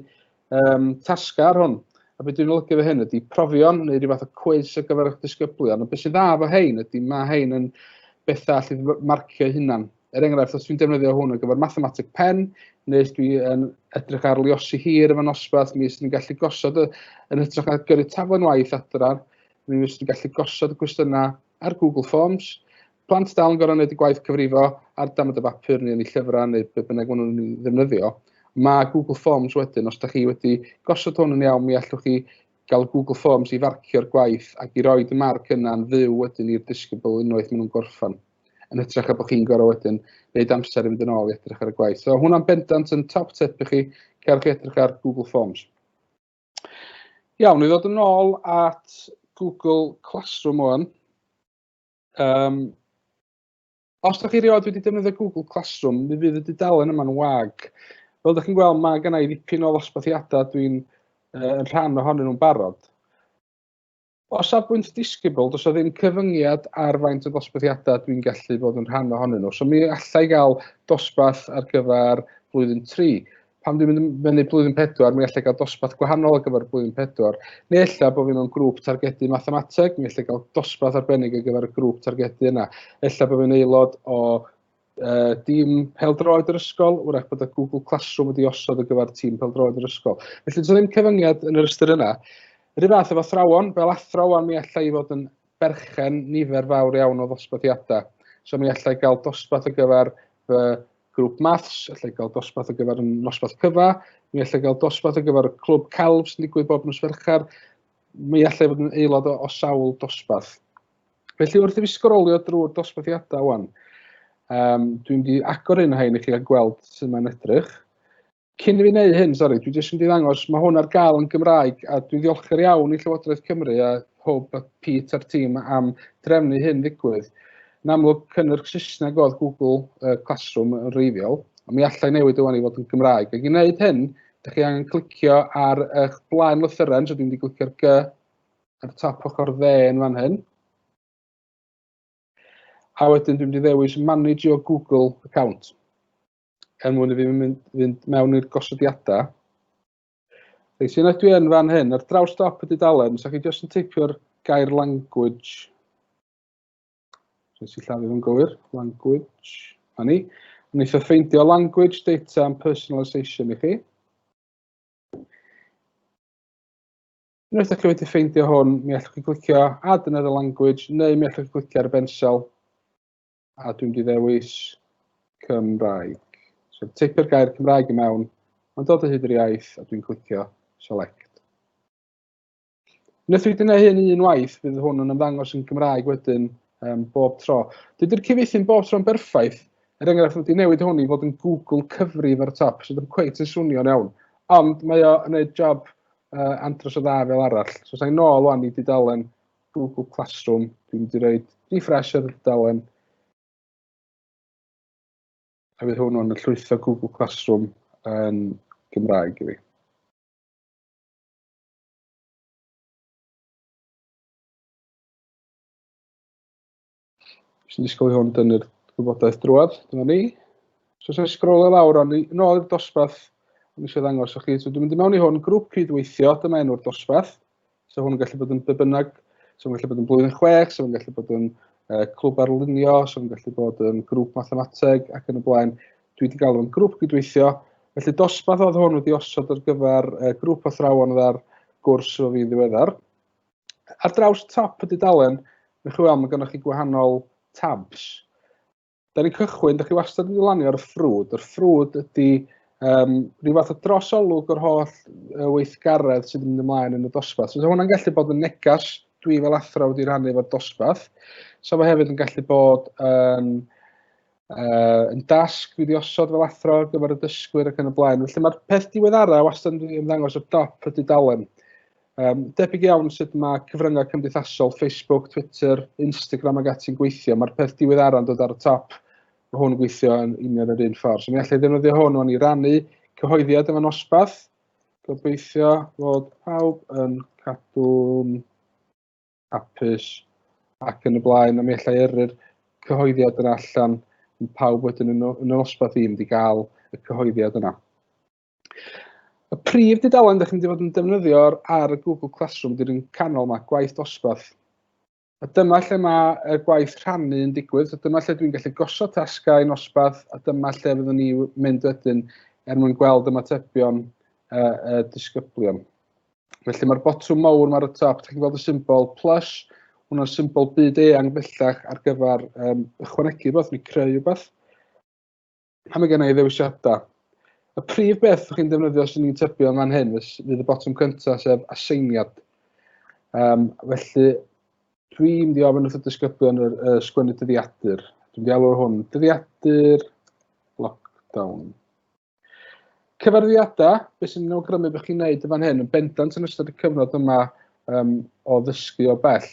Yym tasgau ar hwn. A be dwi'n olygu efo hyn ydy profion neu rhyw fath o cwis ar gyfer eich disgyblion. A beth sy'n dda efo hein ydy mae hein yn bethau allu marcio hunan. Er enghraifft, os dwi'n defnyddio hwn ar gyfer mathematic pen, neu os dwi yn edrych ar liosi hir efo nosbarth, mi ysdyn ni'n gallu gosod y, yn hytrach na gyrru taflen waith adra, mi ysdyn ni'n gallu gosod y cwestiynau ar Google Forms. Plant dal yn gorfod gwneud y gwaith cyfrifo ar damaid y bapur neu yn eu llyfrau neu be bynnag maen nhw'n ddefnyddio. Mae Google Forms wedyn, os da chi wedi gosod hwn yn iawn, mi allwch chi gael Google Forms i farcio'r gwaith ac i roed y marc yna'n fyw wedyn i'r disgybl unwaith maen nhw'n gorffan yn hytrach a bod chi'n gorau wedyn wneud amser i fynd yn ôl i edrych ar y gwaith. So hwnna'n bendant yn top tip i chi, cerwch chi edrych ar Google Forms. Iawn, i ddod yn ôl at Google Classroom ŵan. Um, os ydych chi rioed wedi defnyddio Google Classroom, mi fydd y dudalen yma'n wag. Fel ydych chi'n gweld, mae gen i ddipyn o ddosbarthiadau dwi'n uh, yn rhan ohonyn nhw'n barod. O safbwynt disgybl, does o ddim cyfyngiad ar faint o ddosbarthiadau dwi'n gallu bod yn rhan ohonyn nhw. So mi allai gael dosbarth ar gyfer blwyddyn 3. Pan dwi'n mynd fyny blwyddyn 4, mi allai gael dosbarth gwahanol ar gyfer blwyddyn 4. Neu ella bod fi mewn grŵp targedu mathemateg, mi allai gael dosbarth arbennig ar gyfer y grŵp targedu yna. Ella bod fi'n aelod o yy dim pêl-droed yr ysgol, wrach bod y Google Classroom wedi osod ar gyfer tîm pêl-droed yr ysgol. Felly does ddim cyfyngiad yn yr ystyr yna. Yr un fath efo thrawon, fel athrawon mi allai i fod yn berchen nifer fawr iawn o ddosbarthiadau. So mi allai gael dosbarth ar gyfer fy grŵp maths, allai gael dosbarth ar gyfer y nosbarth cyfa, mi allai gael dosbarth ar gyfer y clwb celf sy'n digwydd bob nos Fercher, mi allai fod yn aelod o, o sawl dosbarth. Felly wrth i fi sgrolio drwy'r dosbarthiadau wan, um, dwi'n di agor un o hyn i chi a gweld sut mae'n edrych. Cyn i fi wneud hyn, sori, dwi jyst yn di ddangos, mae hwn ar gael yn Gymraeg a dwi'n ddiolchgar iawn i Llywodraeth Cymru a Hwb a Pete a'r tîm am drefnu hyn ddigwydd. Yn amlwg, cynnyrch Saesneg oedd Google uh, Classroom yn reiddiol, ond mi allai newid ywan i fod yn Gymraeg. Ac i wneud hyn, ydych chi angen clicio ar eich blaen lythyren, so dwi'n di glicio'r G, ar y top ochr dde yn fan hyn. A wedyn dwi'n mynd i ddewis manage your Google account. Er mwyn i fi mynd, fynd mewn i'r gosodiadau. Reit, sy'n dwi yn fan hyn, ar draws dop y dudalen, sa chi jyst yn teipio'r gair language. Rhaid sy'n llafu fo'n gywir, language, a ni. Yn eitha ffeindio language, data and personalisation i chi. Unwaith ydych chi wedi ffeindio hwn, mi allwch chi glicio Add another language, neu mi allwch chi glicio ar y bensel, a dwi'n di ddewis Cymraeg. So, teipio'r gair Cymraeg i mewn, mae'n dod o hyd yr iaith, a dwi'n clicio Select. Unwaith wedi gwneud hyn un waith, bydd hwn yn ymddangos yn Gymraeg wedyn um, bob tro. Dydy'r cyfeithi bob tro'n berffaith. Er enghraifft, wedi newid hwn i fod yn Google cyfrif ar y top, sydd ddim cweit yn swnio'n iawn. Ond mae o'n gwneud job uh, andros o dda fel arall. So sa'n nôl o'n i wedi dalen Google Classroom, dwi'n wedi rhoi refresh ar y dalen. A fydd hwn o'n llwytho Google Classroom yn Gymraeg i fi. Jyst yn disgwyl i hwn dynnu'r gwybodaeth drwad. Dyma ni. So, sef sgrol y lawr, ond yn ôl i'r dosbarth, ond eisiau ddangos o'ch chi. So, dwi'n mynd i mewn i hwn, grŵp cydweithio, dyma enw'r dosbarth. So, hwn yn gallu bod yn bebynnag, so, hwn yn gallu bod yn blwyddyn chwech, so, hwn yn gallu bod yn uh, clwb arlunio, so, hwn yn gallu bod yn grŵp mathemateg ac yn y blaen. Dwi wedi gael o'n grŵp cydweithio. Felly, dosbarth oedd hwn wedi osod ar gyfer uh, grŵp athrawon ar gwrs o fi ddiweddar. Ar draws top y dudalen, newch chi weld mae gennych chi gwahanol tabs. Da ni'n cychwyn, da chi wastad wedi lanio ar y ffrwd. Yr ffrwd ydy um, rhyw fath o drosolwg o'r holl weithgaredd sydd yn mynd ymlaen yn y dosbarth. So, hwnna'n gallu bod yn negas, dwi fel athro wedi rhannu efo'r dosbarth. So, mae hefyd yn gallu bod yn um, uh, yn dasg wedi osod fel athro ar gyfer y dysgwyr ac yn y blaen. Felly mae'r peth diweddara wastad yn ymddangos o dop y dudalen. Um, debyg iawn sut mae cyfryngau cymdeithasol, Facebook, Twitter, Instagram ac ati'n gweithio, mae'r peth diweddara yn dod ar y top. Mae hwn yn gweithio yn union yr un ffordd. So mi allai ddefnyddio hwn o'n i rannu cyhoeddiad yma nosbath. Gobeithio fod pawb yn cadw'n hapus ac yn y blaen, a mi allai yrru'r cyhoeddiad yn allan yn pawb wedyn yn, yn y nosbarth i mynd i gael y cyhoeddiad yna. Y prif dudalen ydych chi'n mynd fod yn defnyddio ar y Google Classroom di'r un canol yma, gwaith dosbarth. A dyma lle mae y gwaith rhannu yn digwydd, so dyma lle dwi'n gallu gosod tasgau yn osbarth, a dyma lle fyddwn ni mynd wedyn er mwyn gweld ymatebion y, y disgyblion. Felly mae'r botwm mawr yma ar y top, chi'n gweld y symbol plus, hwnna'r symbol byd eang bellach ar gyfer um, ychwanegu rhywbeth neu creu rhywbeth. A mae gen i ddewisiadau. Y prif beth ydych chi'n defnyddio sy'n ni'n tybio yn fan hyn fydd y botwm cyntaf sef aseiniad. Um, felly, dwi'n mynd i ofyn wrth y disgyblion y, y sgwennu dyddiadur. Dwi'n mynd i alw'r hwn dyddiadur lockdown. Cyfarwyddiadau, beth sy'n awgrymu bod chi'n gwneud yn fan hyn, yn bendant yn ystod y cyfnod yma um, o ddysgu o bell.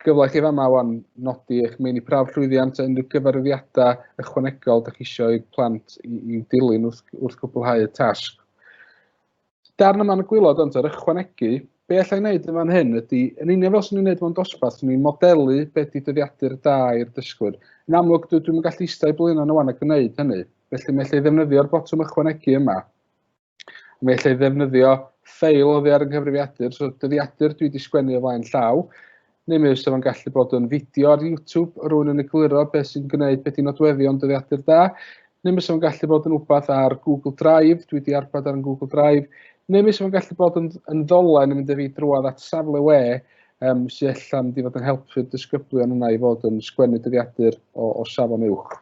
Gyfle chi fama wan nodi eich meini prawf llwyddiant a unrhyw gyfarwyddiadau ychwanegol da chi eisiau i plant i'w dilyn wrth, wrth gwblhau y tasg. Darn yma yn y gwylod ond yr ychwanegu, be allai wneud yn fan hyn ydy, yn union fel sy'n ni'n gwneud mewn dosbarth, sy'n ni'n modelu beth di dyddiadur da i'r dysgwyr. Yn amlwg, dwi, dwi'n gallu eistedd i blino yn y wan a gwneud hynny. Felly, mae allai ddefnyddio'r botwm ychwanegu yma. Mae allai ddefnyddio ffeil o ddear yng nghyfrifiadur, so dyddiadur dwi wedi sgwennu o flaen llaw. Neu mi fysa fo'n gallu bod yn fideo ar YouTube o rywun yn egluro beth sy'n gwneud beth i nodweddion dyddiadur da. Neu mi fysa fo'n gallu bod yn wbath ar Google Drive, dwi wedi arbed ar yn Google Drive. Neu mi fysa fo'n gallu bod yn, yn ddolen yn mynd â fi drwodd at safle we um, sy'n allan mynd i fod yn helpu'r disgyblion yna i fod yn sgwennu dyddiadur o, o safon uwch.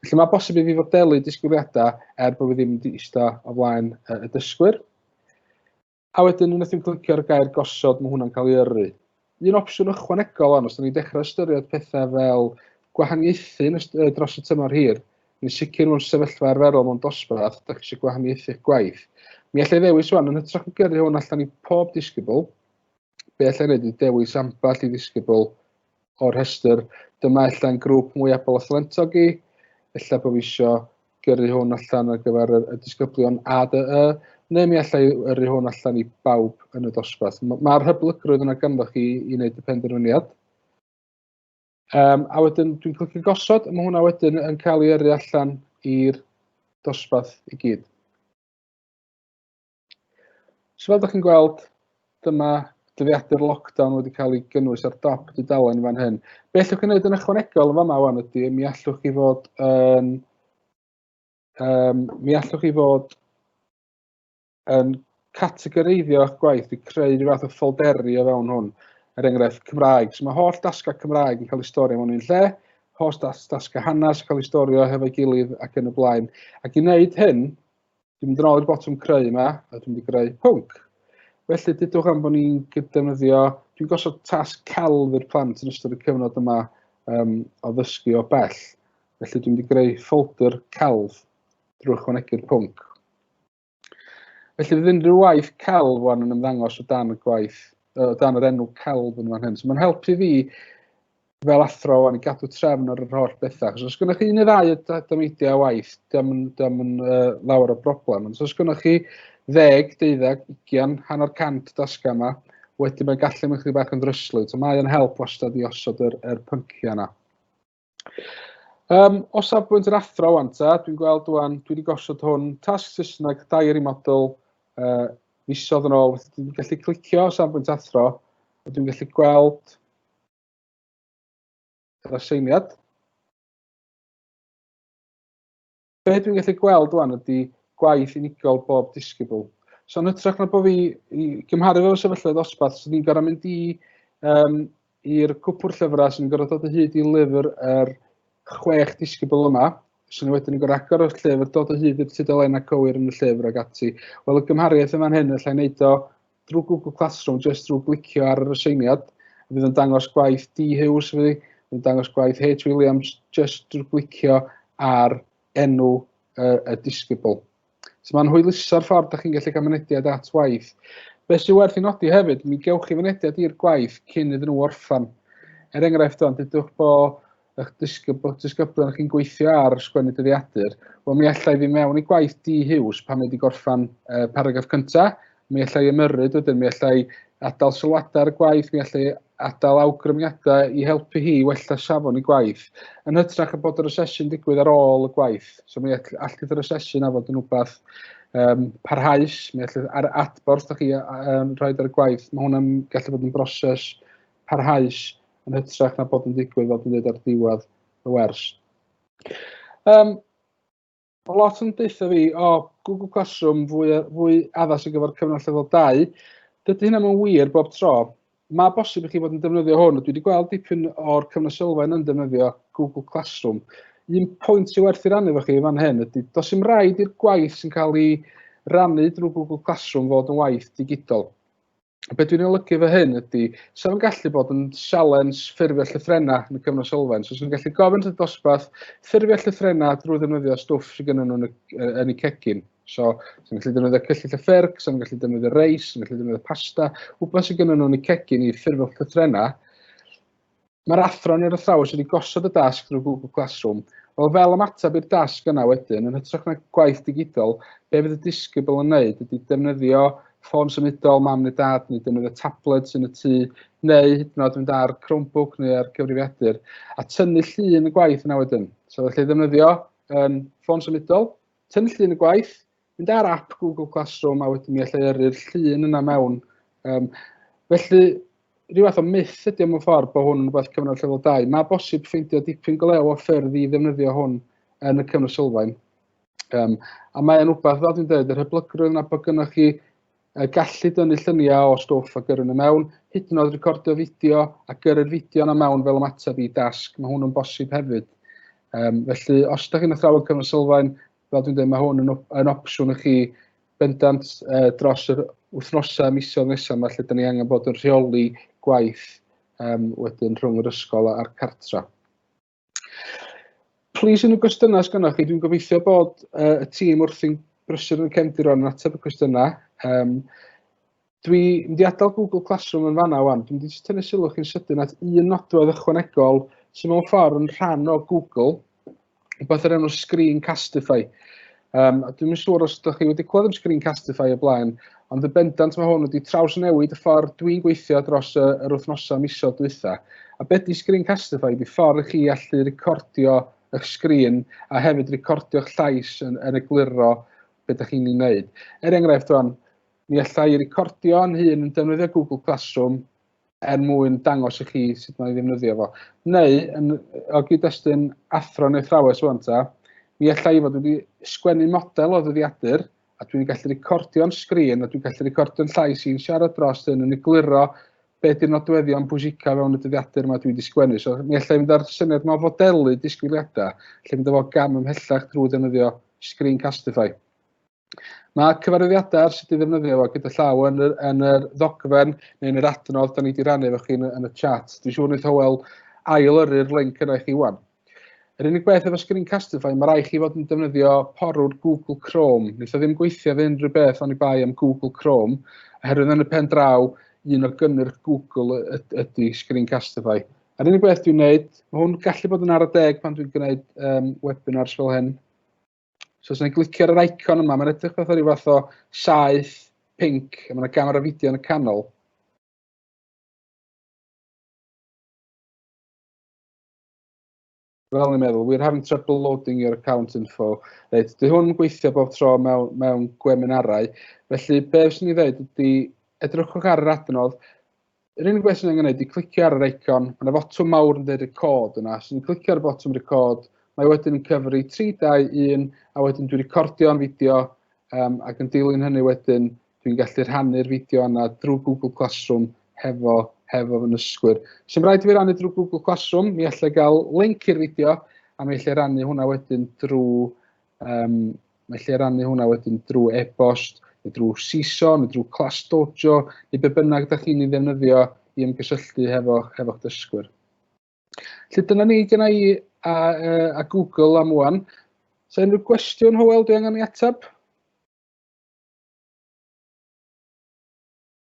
Felly mae bosib i fi fod delu disgwyliadau er bod fi ddim wedi eista o flaen y dysgwyr. A wedyn unwaith ti'n clicio ar y gair gosod, mae hwnna'n cael ei yrru. Un opsiwn ychwanegol ond, os da ni'n dechrau ystyried pethau fel gwahaniaethu dros y tymor hir, yn sicr mewn sefyllfa arferol mewn dosbarth, da chi eisiau gwahaniaethu'ch gwaith. Mi allai ddewis wan, yn hytrach o gyrru hwn allan i pob disgybl, be allai wneud ydy dewis ambell i ddisgybl o'r rhestr. Dyma ella'n grŵp mwy abl a thalentog i. Ella bod fi isio gyrru hwn allan ar gyfer y, y disgyblion ADE, neu mi allai yrru hwn allan i bawb yn y dosbarth. Mae'r ma hyblygrwydd yna ganddoch chi i wneud y penderfyniad. Um, a wedyn dwi'n clicio gosod, a mae hwnna wedyn yn cael ei yrru allan i'r dosbarth i gyd. So fel ydych chi'n gweld, dyma dyddiadur lockdown wedi cael ei gynnwys ar dop dudalen fan hyn. Be allwch chi wneud yn ychwanegol yn fama wan ydy, mi allwch chi fod yn... Um, mi allwch chi fod yn categoreiddio eich gwaith i creu rhyw fath o ffolderi o fewn hwn. Er enghraifft, Cymraeg. So mae holl dasgau Cymraeg yn cael ei storio mewn un lle, holl das, dasgau hanes yn cael ei storio hefo'i gilydd ac yn y blaen. Ac i wneud hyn, Dwi'n mynd yn ôl i'r botwm creu yma, a dwi'n mynd i greu pwnc. Felly, dydwch am bod ni'n gydefnyddio, dwi'n gosod tasg celf i'r plant yn ystod y cyfnod yma um, o ddysgu o bell. Felly, dwi'n mynd i greu ffolder celf drwy chwanegu'r pwnc. Felly, fydd unrhyw waith celf wan yn ymddangos o dan y gwaith, o dan yr enw celf yn fan hyn. So, mae'n helpu fi fel athro o'n i gadw trefn ar yr holl bethau. Achos os gynnwch chi un neu ddau o dymeidiau waith, dyma yn, dyma yn uh, lawer o broblem. Ond os gynnwch chi ddeg, deuddag, ugian, hanner cant dasga yma, wedyn mae'n gallu mynd chi bach yn ddryslwyd. So mae'n help wastad i osod yr, yr pynciau yna. Um, o safbwynt yr athro wan ta, dwi'n gweld wan, dwi wedi gosod hwn, tasg Saesneg, dair i model, uh, misodd yn ôl, dwi'n gallu clicio o safbwynt athro, a dwi'n gallu gweld yr aseiniad. Be dwi'n gallu gweld rwan ydy gwaith unigol bob disgybl. So yn hytrach na bod fi i gymharu fel sefyllfa ddosbarth, sy'n ni'n gorau mynd i um, i'r cwpwr llyfrau sy'n gorau dod o hyd i lyfr yr er chwech disgybl yma, sy'n wedyn yn gorau agor o'r llyfr, dod o hyd i'r tudalen a cywir yn y llyfr ag ati. Wel, y gymhariaeth yma'n hyn, allai wneud o drwy Google Classroom, jyst drwy glicio ar yr aseiniad, fydd yn dangos gwaith D. Hughes fi, fydd yn dangos gwaith H. Williams, jyst drwy glicio ar enw uh, y disgybl. So mae'n hwyluso'r ffordd da chi'n gallu cael mynediad at waith. Be sy'n werth i nodi hefyd, mi gewch chi fynediad i'r gwaith cyn iddyn nhw orffan. Er enghraifft o'n, dydwch bod eich disgyb- disgyblion chi'n gweithio ar sgwennu dyddiadur, wel mi allai fi mewn i gwaith di hiws pan mae wedi gorffan uh, paragraff cyntaf, mi allai ymyrryd wedyn, mi allai adael sylwadau ar y gwaith, mi allai adael awgrymiadau i helpu hi wella safon i gwaith, yn hytrach y bod yr asesu'n digwydd ar ôl y gwaith. So mi all, all gyda'r asesu'n afod yn rhywbeth um, parhaus, mi allai ar adborth da chi um, rhaid ar y gwaith, mae hwnna'n gallu bod yn broses parhaus yn hytrach na bod yn digwydd fel dwi'n dweud ar ddiwedd y wers. Um, o lot yn deutha fi, o, oh, Google Classroom fwy, fwy addas ar gyfer cyfnod llefel 2. Dydy hynna mae'n wir bob tro. Mae bosib i chi fod yn defnyddio hwn, a dwi wedi gweld dipyn o'r cyfnod sylfaen yn defnyddio Google Classroom. Un pwynt sy'n werth i rannu efo chi fan hyn ydy, dos i'n rhaid i'r gwaith sy'n cael ei rannu drwy Google Classroom fod yn waith digidol. A be dwi'n olygu fo hyn ydy, sa'n gallu bod yn sialens ffurfio llythrena yn y cyfnod sylfaen. So, sa'n gallu gofyn y dosbarth ffurfio llythrena drwy ddefnyddio stwff sy'n gynnyn nhw'n yn y cegin. So, sa'n gallu defnyddio cyllyll y ffyrc, sa'n gallu defnyddio reis, sa'n gallu defnyddio pasta, wbeth sy'n gynnyn nhw'n y cegin i ffurfio llythrena. Mae'r athro yn yr athrawes wedi gosod y dasg drwy Google Classroom. Wel, fel ymateb i'r dasg yna wedyn, yn hytrach na gwaith digidol, be fydd y disgybl yn wneud ydy defnyddio ffôn symudol mam neu dad neu defnyddio tabled sy'n y tŷ neu hyd yn oed mynd ar Chromebook neu ar gyfrifiadur a tynnu llun y gwaith yna wedyn. So felly ddefnyddio um, ffôn symudol, tynnu llun y gwaith, mynd ar app Google Classroom a wedyn mi allai yrru'r llun yna mewn. Um, felly, rhyw fath o myth ydy o'n ffordd bod hwn yn rhywbeth cyfnod llefel 2. Mae bosib ffeindio dipyn golew o ffyrdd i ddefnyddio hwn yn y cyfnod sylfaen. Um, a mae'n rhywbeth, fel dwi'n dweud, yr hyblygrwydd yna bod gynnwch chi uh, gallu dynnu lluniau o stwff a gyrru nhw mewn, hyd yn oed recordio fideo a gyrru'r fideo yna mewn fel ymateb i dasg. Mae hwn yn bosib hefyd. Um, felly, os ydych chi'n athrawon cyfnod sylfaen, fel dwi'n deud, mae hwn yn yn opsiwn i chi bendant uh, dros yr wythnosau, misoedd nesaf yma lle da ni angen bod yn rheoli gwaith um, wedyn rhwng yr ysgol a'r cartra. Plis yn y gwestiynau sydd gennych chi, dwi'n gobeithio bod uh, y tîm wrthi'n brysur yn y cefndiron yn ateb y cwestiynau. Um, Dwi mynd i adael Google Classroom yn fanna wan. Dwi'n mynd i jyst tynnu sylw chi'n sydyn at un nodwedd ychwanegol sy'n mewn ffordd yn rhan o Google, rhywbeth yr enw Screencastify. Um, a dwi'n mynd siŵr os ydych chi wedi clywed am Screencastify o blaen, ond y bendant mae hwn wedi traws newid y ffordd dwi'n gweithio dros y, yr wythnosau miso dwytha. A beth di Screencastify? Di ffordd chi allu recordio eich sgrin a hefyd recordio'ch llais yn, yn egluro beth ydych chi'n ei wneud. Er enghraifft, o'n, Mi alla i recordio yn hun yn defnyddio Google Classroom er mwyn dangos i chi sut mae'n ddefnyddio fo. Neu, yn, o gyd-destun athro neu thrawes o'n ta, mi alla i fod wedi sgwennu model o ddyddiadur a dwi'n gallu recordio'n sgrin a dwi'n gallu recordio'n llais i'n siarad dros hyn yn egluro be di'r nodweddion pwysica fewn y dyddiadur yma dwi wedi sgwennu. So, mi alla i fynd ar syniad yma o fodelu disgwyliadau, lle mynd efo gam ymhellach drwy ddefnyddio Screencastify. Mae cyfarwyddiadau ar sut i ddefnyddio fo gyda llaw yn yr, yn yr ddogfen neu yn yr adnodd da ni wedi rannu efo chi yn, yn y chat. Dwi'n siŵr wneud Howell ail yrru'r link yna i chi wan. Yr unig beth efo Screencastify, mae rai chi fod yn defnyddio porwr Google Chrome. Wnaeth o ddim gweithio fe unrhyw beth ond i bai am Google Chrome, oherwydd yn y pen draw, un o gynnyrch Google ydy Screencastify. Yr unig beth dwi'n gwneud, mae hwn gallu bod yn ar y deg pan dwi'n gwneud um, webinars fel hyn, So os yna'n glicio ar yr icon yma, mae'n edrych fatha rhyw fath o saeth pink, a mae yna gamera fideo yn y canol. Fel ni'n meddwl, we're having trouble loading your account info. Reit, dy hwn yn gweithio bob tro mewn, mewn gweminarau. Felly, be fes ni ddeud ydy, edrychwch ar yr adnodd, Yr unig beth sy'n angen ydy clicio ar yr eicon, mae'n fotwm mawr yn dweud record yna, os dwi'n clicio ar y botwm record, mae wedyn yn cyfri 3, 2, 1, a wedyn dwi'n recordio yn fideo, um, ac yn dilyn hynny wedyn, dwi'n gallu rhannu'r fideo yna drwy Google Classroom hefo, hefo fy nysgwyr. Sy'n rhaid i fi rannu drwy Google Classroom, mi allai gael link i'r fideo, a mi allai rannu hwnna wedyn drwy Um, mae lle rannu hwnna wedyn drwy e-bost, neu drwy CISO, neu drwy Class Dojo, neu be bynnag ydych chi'n ei ddefnyddio i ymgysylltu hefo, hefo dysgwyr. Lly dyna ni gyda i a, a Google am wan. So unrhyw gwestiwn, Howell, dwi angen i atab?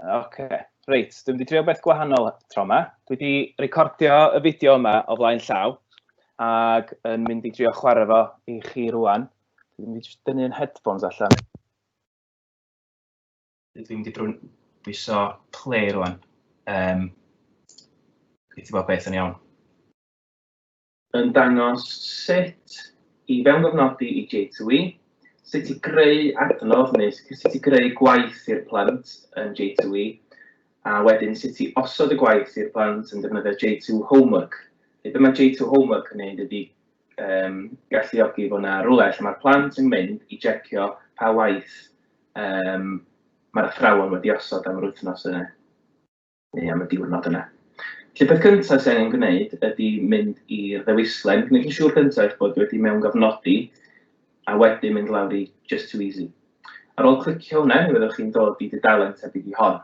Oce, okay. reit, dwi'n wedi trio beth gwahanol tro yma. Dwi wedi recordio y fideo yma o flaen llaw ac yn mynd i drio chwarae fo i chi rwan. Dwi'n mynd i dynnu yn headphones allan. Dwi'n mynd i brwn bwyso play rwan. Um, Gweithio bod beth yn iawn. yn dangos sut i fewngofnodi i J2E, sut i greu adnodd neu sut i greu gwaith i'r plant yn J2E, a wedyn sut i osod y gwaith i'r plant yn defnyddio J2 Homework. Felly, be mae J2 Homework yn gwneud ydy um, galluogi fod yna rhywle lle mae'r plant yn mynd i jecio pa waith um, mae'r athrawon wedi osod am yr wythnos yna. neu am y diwrnod yna. Felly peth cyntaf sy'n angen gwneud ydy mynd i'r ddewislen, gwneud yn siŵr cyntaf eich bod wedi mewn gofnodi, a wedyn mynd lawr i Just Too Easy. Ar ôl clicio hwnna, mi fyddwch chi'n dod i dudalen tebyg i hon.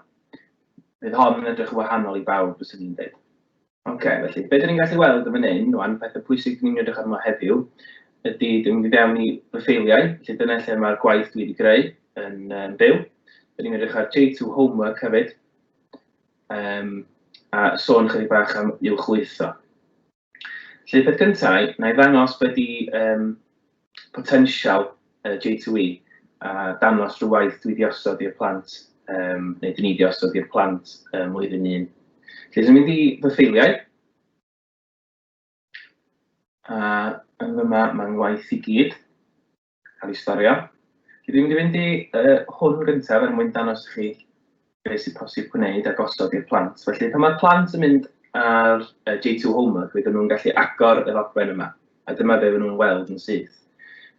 Bydd hon yn edrych yn wahanol i bawb, fyswn i'n dweud. Ok, felly be 'dyn ni'n gallu weld yn fan hyn rwan, petha pwysig 'dyn ni'n mynd i edrych arno heddiw ydy, 'dyn ni'n mynd i fewn i fy ffeiliau, felly dyna lle mae'r gwaith dwi wedi greu yn um, byw. 'Dyn ni'n mynd i edrych ar J2 Homework hefyd, um, a sôn chydig bach am i'w chwytho. Felly, peth gyntaf, na i ddangos beth i um, potensial yy J2E a dangos rhyw waith dwi 'di osod i'r plant yym neu dyn ni 'di osod i'r plant ym mlwyddyn un. Felly dwi'n mynd i fy ffeiliau. A yn fyma mae ngwaith i gyd cael ei storio. Felly dwi'n mynd i fynd i yy hwn gyntaf er mwyn dangos i chi beth sy'n posib gwneud a gosod i'r plant. Felly, pan mae'r plant yn mynd ar uh, J2 Homework, fydden nhw'n gallu agor y ddogfen yma, a dyma be fydden nhw'n weld yn syth.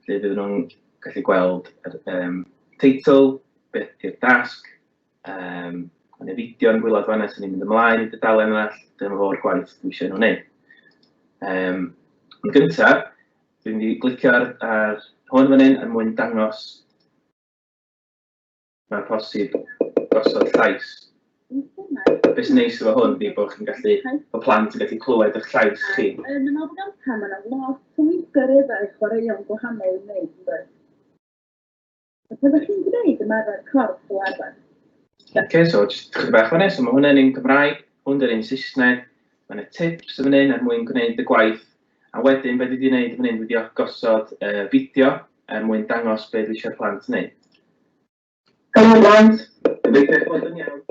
Felly, fydden nhw'n gallu gweld yr um, teitl, beth yw'r dasg, um, yn y fideo yn gwylod fanna sy'n mynd ymlaen i dydalen yna, dyma fo'r gwaith dwi eisiau nhw'n gwneud. Um, yn gyntaf, dwi'n mynd i glicio ar, ar hwn fan hyn er mwyn dangos mae'n posib gosod llais. Be sy'n neis efo hwn ydy bod chi'n gallu, bod plant yn gallu clywed eich llais chi. Yn y nofel gynta, mae yna lot o weithgareddau chwaraeon gwahanol yn wneud, yn dweud. A pe chi'n gwneud ymarfer corff fel arfer? Oce, so jyst chydig bach fan so mae hwnna'n un Cymraeg, hwn yn un Saesneg, mae yna tips yn fan hyn er mwyn gwneud y gwaith A wedyn be dwi 'di neud fan hyn dwi 'di gosod yy fideo er mwyn dangos be dwi isio'r plant neud. Helo plant! Gobeithio eich bod yn iawn.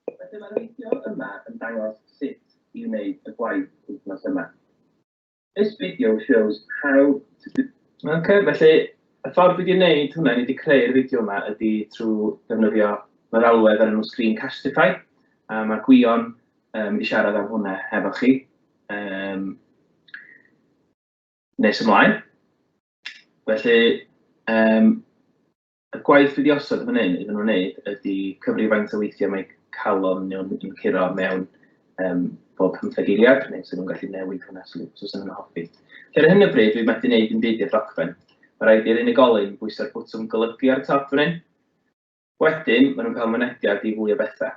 Felly mae'r fideo yma yn dangos sut i wneud y gwaith wythnos yma. This video shows how to do Ok, felly y ffordd dwi 'di neud hwnna, dwi 'di creu'r fideo yma ydi trw ddefnyddio meddalwedd o'r enw Screencastify a ma' Gwion yn mynd i siarad am hwnna hefo chi. Um, nes ymlaen. Felly, um, y gwaith wedi osod fan hyn iddyn nhw'n wneud ydy cyfri faint o weithiau mae calon nhw'n yn curo mewn um, bob pymtheg eiliad, neu sydd nhw'n gallu newid hwnna os so nhw'n hoffi. Felly ar hyn o bryd, dwi'n methu gwneud yn byd i'r ddogfen. Mae rhaid i'r unigolyn bwysau'r bwtwm golygu ar y top fan hyn, Wedyn, maen nhw'n cael mynediad i fwy o bethau.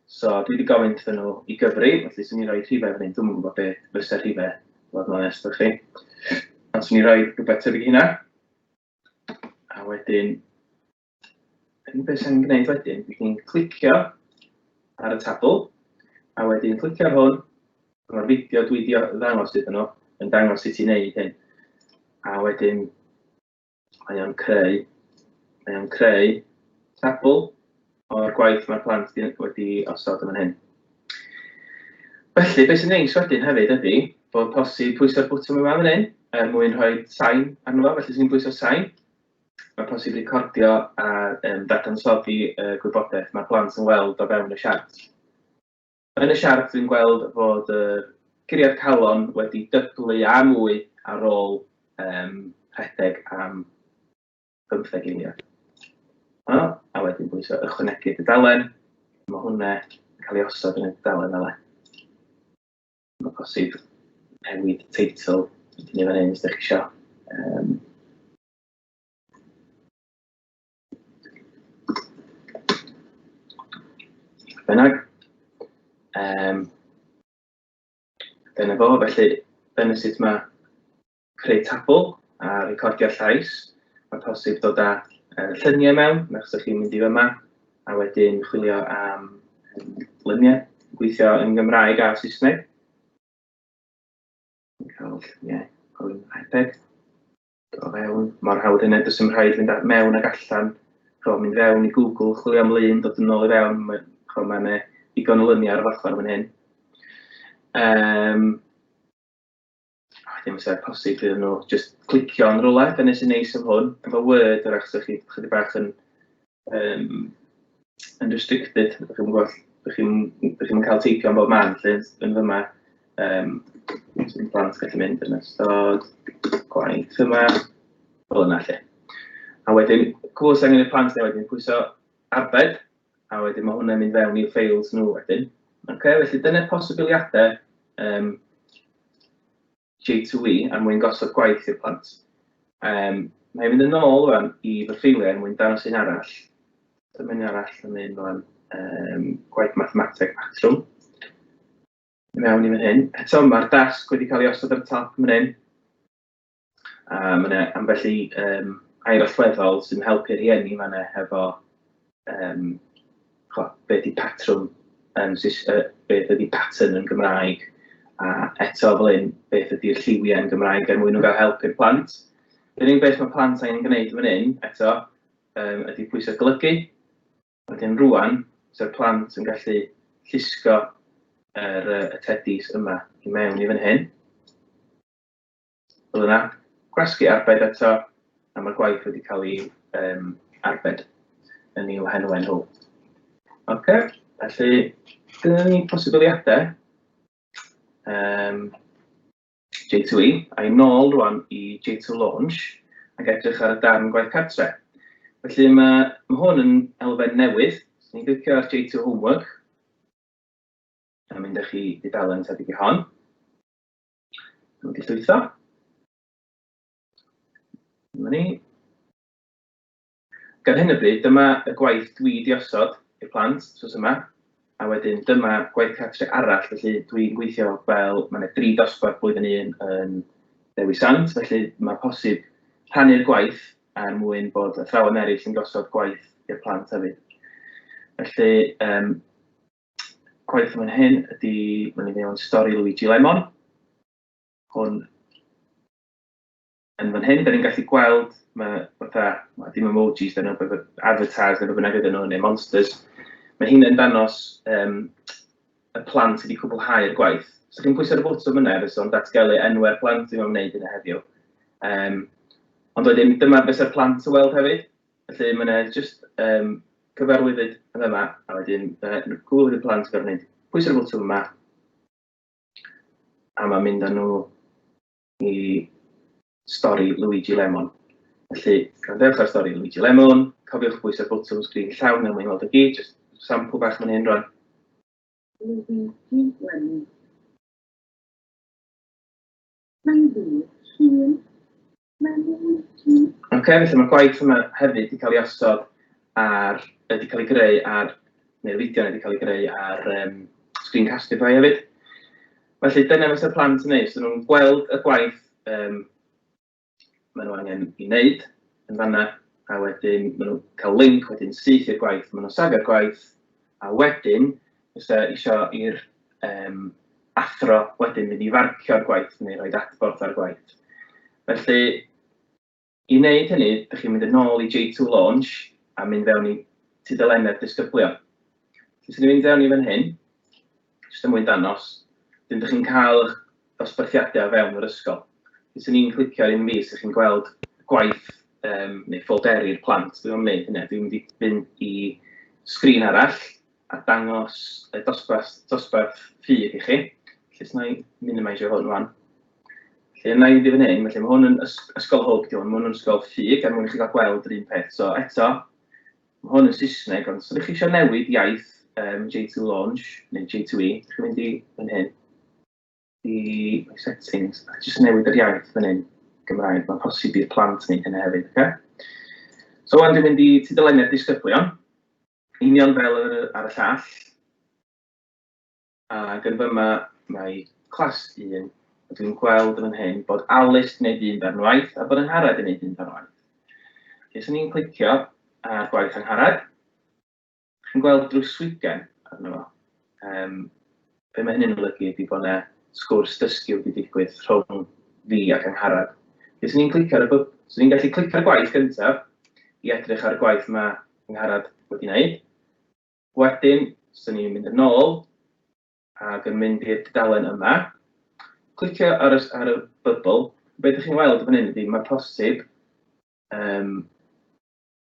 So, dwi wedi gofyn wrthyn nhw i gyfri, felly swn i'n rhoi rhifau fan hyn, dwi'n yn gwybod beth fysa rhifau, fod yn onest â chi. Ond swn i'n rhoi rhywbeth tebyg i hynna. A wedyn, yn beth sy'n gwneud wedyn, dwi chi'n clicio ar y tabl, a wedyn clicio ar hwn, mae'r fideo dwi wedi ddangos iddyn nhw yn dangos sut i wneud hyn. A wedyn, Mae o'n creu, mae o'n creu sampl o'r gwaith mae'r plant wedi osod yn fan hyn. Felly, beth sy'n neis wedyn hefyd ydy bod posib pwyso'r bwtwm yma fan hyn er mwyn rhoi sain arno fo, felly sy'n pwyso sain. Mae posib recordio a um, dadansoddi y uh, gwybodaeth mae plant yn weld o fewn y siart. Yn y siart dwi'n gweld fod y curiad calon wedi dyblu a mwy ar ôl um, rhedeg am bymtheg eiliad. O, a wedyn bwysau ychwanegu dudalen, mae hwnna yn cael ei osod yn y dudalen fel e. Mae posib newid teitl yn ei fan hyn, os ydych chi eisiau. Um, Bynnag, um, dyna fo, felly dyna sut mae creu tabl a recordio llais. Mae posib dod â uh, lluniau mewn, mae'ch sy'ch chi'n mynd i fyma, a wedyn chwilio am um, lluniau, gweithio yn Gymraeg a Saesneg. Cael lluniau o'r iPad. O fewn, mor hawdd hynny, does dim rhaid fynd mewn ac allan. Chwa, mynd fewn i Google, chwilio am lun, dod yn ôl i fewn, mae'n ma yna digon o lyniau ar y ochr fan hyn. Um, oh, ddim sef posib iddyn nhw, just clicio yn rhywle, dyna sy'n neis am hwn. Efo Word, yr achos chi chydig bach yn um, yn restricted, ydych chi'n gwybod, ydych chi'n chi yn cael teipio am bob man, lle yn fyma, um, sy'n plant gallu mynd yn ystod gwaith yma, fel yna lle. A wedyn, cwrs angen y plant neu wedyn, pwyso arbed, a wedyn mae hwnna'n mynd fewn i'w ffeils nhw wedyn. Okay, felly dyna posibiliadau um, J2E er mwyn gosod gwaith i'r plant. Um, Mae'n mynd yn ôl rwan i fy ffeiliau er mwyn dangos un arall. Dyma un arall yn mynd rwan um, gwaith mathemateg patrwm. Mewn i fan hyn. Eto mae'r dasg wedi cael ei osod ar y top yn hyn. A mae yna ambell i um, air allweddol sy'n helpu rhieni fan efo um, chwa, beth ydi patrwm, um, uh, beth ydi pattern yn Gymraeg, a eto fel un, beth ydi'r lliwiau yn Gymraeg er mwyn nhw gael help i'r plant. Yr unig beth mae plant angen gwneud yn fan hyn, eto, um, ydy pwysau golygu. Wedyn rwan, sef plant yn gallu llusgo yr, uh, y tedis yma i mewn i fan hyn. Fel yna, gwasgu arbed eto, a mae'r gwaith wedi cael ei um, arbed yn i'w henwau nhw. Ok, felly, dyna ni posibiliadau um, J2E, a'i nôl rwan i J2 Launch, ac edrych ar y darn gwaith cartre. Felly mae, mae hwn yn elfen newydd, so ni'n glicio ar J2 Homework, a mynd â chi i dalen tebyg i hon. Yn wedi llwytho. Dyma ni. Gan hyn y bryd, dyma y gwaith dwi wedi osod i'r plant, sos yma, a wedyn dyma gwaith cartre arall, felly dwi'n gweithio fel, mae yna dri dosbarth blwyddyn un yn Dewi Sant, felly mae posib rhannu'r gwaith er mwyn bod athrawon eraill yn gosod gwaith i'r plant hefyd. Felly, um, coelio fan hyn ydy, mae'n ei mewn stori Luigi Lemon. Hwn yn fan hyn, da ni'n gallu gweld, mae fatha, mae dim emojis, da ni'n advertise neu bynnag ydyn nhw, neu monsters. Mae hyn yn danos um, y plant sydd wedi cwblhau'r gwaith. So chi'n pwysau'r bwtwm yna, fe o'n datgelu enwau'r plant sy'n wneud yna heddiw. Um, ond wedyn, dyma beth yw'r plant yn weld hefyd. Felly mae 'na jyst yym cyfarwyddyd yn fama a wedyn yy n- cŵl i'r plant gorfod neud pwyso'r botwm yma a mae'n mynd â nhw i stori Luigi Lemon. Felly, gwrandewch ar stori Luigi Lemon, cofiwch bwyso'r botwm sgrin llawn er mwyn weld y gyd, jyst sampl bach fan hyn rwan. Luigi Lemon. Mae'n ddyn hŷn. Mae'n ddyn hŷn. Ok, felly mae'r gwaith yma hefyd wedi cael ei osod ar, wedi cael ei greu ar, neu lidio wedi cael ei greu ar um, Screencastify hefyd. Felly dyna fysa'r plant yn neud, so nhw'n gweld y gwaith um, maen nhw angen i wneud yn fanna, a wedyn maen nhw'n cael link wedyn syth i'r gwaith, maen nhw'n safio'r gwaith, a wedyn fysa isio i'r um, athro wedyn mynd i farcio'r gwaith neu roi adborth ar gwaith. Felly, i wneud hynny, ydych chi'n mynd yn ôl i J2 Launch a mynd fewn i tudalennau'r disgyblion. Felly, sy'n mynd fewn i fan hyn, jyst yn mwyn danos, dyn ydych chi'n cael eich dosbarthiadau o fewn yr ysgol. Felly, sy'n ni'n clicio ar un fi, sy'n chi'n gweld gwaith um, neu ffolderi'r plant. Dwi'n mynd hynny, dwi'n mynd i fynd i sgrin arall, a dangos y dosbarth, dosbarth ffug i chi. Felly, os na i minimisio hwn rwan. Felly, yna i fynd i fan hyn, felly mae hwn yn ysgol hwb, di hwn, mae hwn yn ysgol ffug, er mwyn i chi gael gweld yr un peth. So, eto, mae hwn yn Saesneg, ond os ydych chi eisiau newid iaith um, J2 Launch, neu J2E, ydych chi'n mynd i fan hyn, i settings, a jyst newid yr iaith fan hyn, Gymraeg, mae'n posib i'r plant wneud hynny hefyd, okay? So, ond dwi'n mynd i tudalennau'r disgyblion, Union fel yr ar y llall, ac yn fyma mae clas un, a dwi'n gweld yn fan hyn bod Alice yn gwneud un darn waith a bod Angharad yn gwneud un darn waith. Felly, os ni'n clicio ar gwaith Angharad, chi'n gweld drws swigen arno fo. Um, Be mae hynny'n olygu ydy bod 'na sgwrs dysgu wedi digwydd rhwng fi ac Angharad. Be 'swn i'n clicio ar y bw-? 'Swn i'n gallu clicio ar y gwaith gyntaf i edrych ar y gwaith ma' Angharad wedi wneud. Wedyn, 'swn i'n mynd yn ôl ac yn mynd i'r dudalen yma, clicio ar y, ar y bybl. Be dych chi'n weld fan hyn ydy, mae posib um,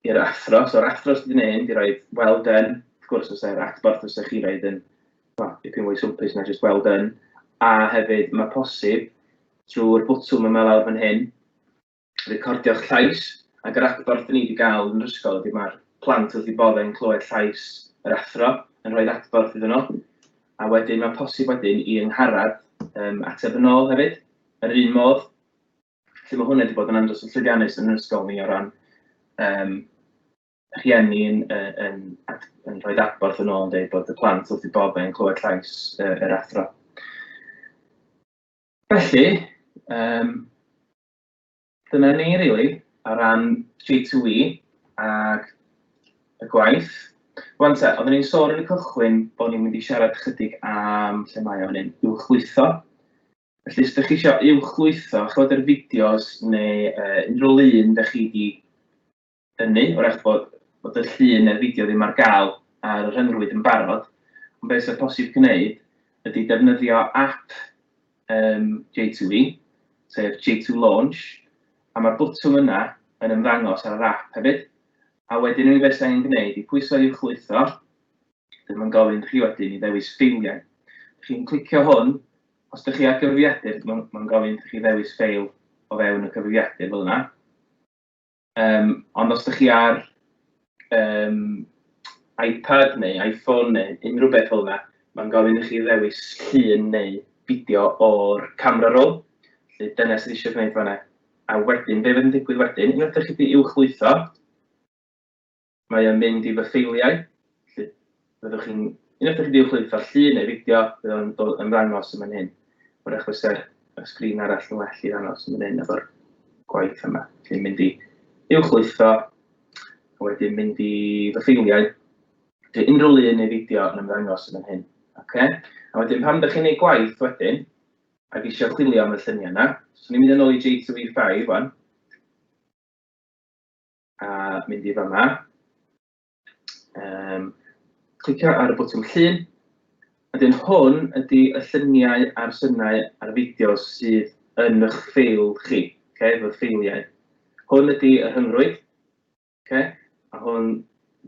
i'r athro. So yr athro sydd yn hyn, di roi well done, wrth gwrs os e'r adborth os chi roed yn well, dipyn mwy swmpus na just well done. A hefyd mae posib trwy'r bwtwm yma lawr fan hyn, recordio'ch llais, ac yr adborth ni wedi gael yn yr ysgol ydy mae'r plant wrth i boddau yn clywed llais yr athro yn rhoi adborth iddyn nhw. A wedyn mae posib wedyn i yngharad um, ateb yn ôl hefyd, yr un modd, Felly mae hwn wedi bod yn andros o llwyddiannus yn yr ysgol ni o ran um, rhieni yn, yn, yn, yn rhoi adborth yn ôl yn dweud bod y plant wrth i bob yn clywed llais uh, yr athro. Felly, um, dyna ni, really, o ran G2E ac y gwaith. Wan te, oeddwn i'n sôn yn y cychwyn bod ni'n mynd i siarad chydig am lle mae o'n un uwchlwytho. Felly, os ydych chi eisiau uwchlwytho chod yr fideos neu uh, unrhyw lun ydych chi wedi ynnu, o'r eich bod, bod y llun neu'r fideo ddim ar gael ar y rhyngrwyd yn barod, ond beth sy'n posib gwneud ydy defnyddio app um, J2E, sef J2 Launch, a mae'r bwtwm yna yn ymddangos ar yr app hefyd, a wedyn unig beth sy'n gwneud i pwyso i'w chlwytho, Dw i'n gofyn chi wedyn i ddewis ffeiliau. Dych chi'n clicio hwn, os dych chi ar gyfrifiadur, mae'n gofyn chi ddewis ffeil o fewn y cyfrifiadur fel yna. Um, ond os dych chi ar um, iPad neu iPhone neu unrhyw beth fel yna, mae'n gofyn i chi ddewis llun neu fideo o'r camera roll. Felly dyna sydd eisiau gwneud fanna. A wedyn, be fydd yn digwydd wedyn, unwaith ydych chi wedi uwchlwytho, Mae o'n mynd i fy ffeiliau, felly fyddwch chi'n, unwaith i chi 'di uwchlwytho llun neu fideo, bydd o'n dod ymddangos yn fan hyn. Wrach fyse'r y sgrin arall yn well i ddangos yn fan hyn efo'r gwaith yma. Felly mynd i uwchlwytho, a wedyn mynd i fy ffeiliau. Dwi unrhyw lun neu fideo yn ymddangos yn fan hyn. Okay? A wedyn pan ydych chi'n ei gwaith wedyn, ac eisiau chwilio am y lluniau yna, so ni'n mynd yn ôl i J2E5 wan, a mynd i fanna. Um, clicio ar y botwm llun. A dyn hwn ydy y lluniau a'r synnau a'r fideos sydd yn eich ffeil chi, okay, fy ffeiliau. Hwn ydy y rhyngrwyd, okay, a hwn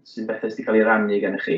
sy'n bethau sydd wedi cael ei rannu gen i chi.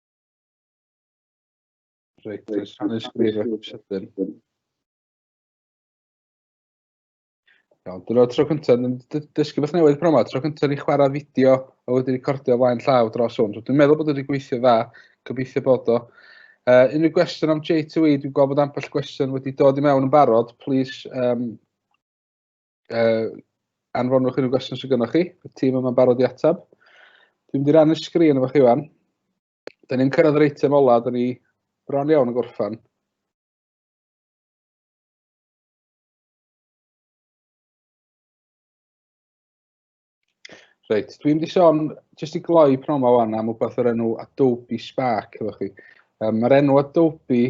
Reit, oes rhan ysgrifau sydyn. Iawn, dyna tro cyntaf, yn dysgu beth newydd promo, tro cyntaf ni chwarae fideo a wedi recordio flaen llaw dros hwn. So, dwi'n meddwl bod wedi gweithio dda, gobeithio bod o. Uh, unrhyw gwestiwn am J2E, dwi'n gweld bod ambell gwestiwn wedi dod i mewn yn barod, please um, uh, anfonwch unrhyw gwestiwn sydd gennych chi, y tîm yma'n barod i atab. Dwi'n mynd i rannu'r sgrin efo chi fan. Da ni'n cyrraedd yr eitem ola, da ni bron iawn yn gorffan. Reit, dwi'n di sôn, jyst i gloi pnawn ma wan, am wbeth o'r enw Adobe Spark, efo chi. Um, Mae'r enw Adobe,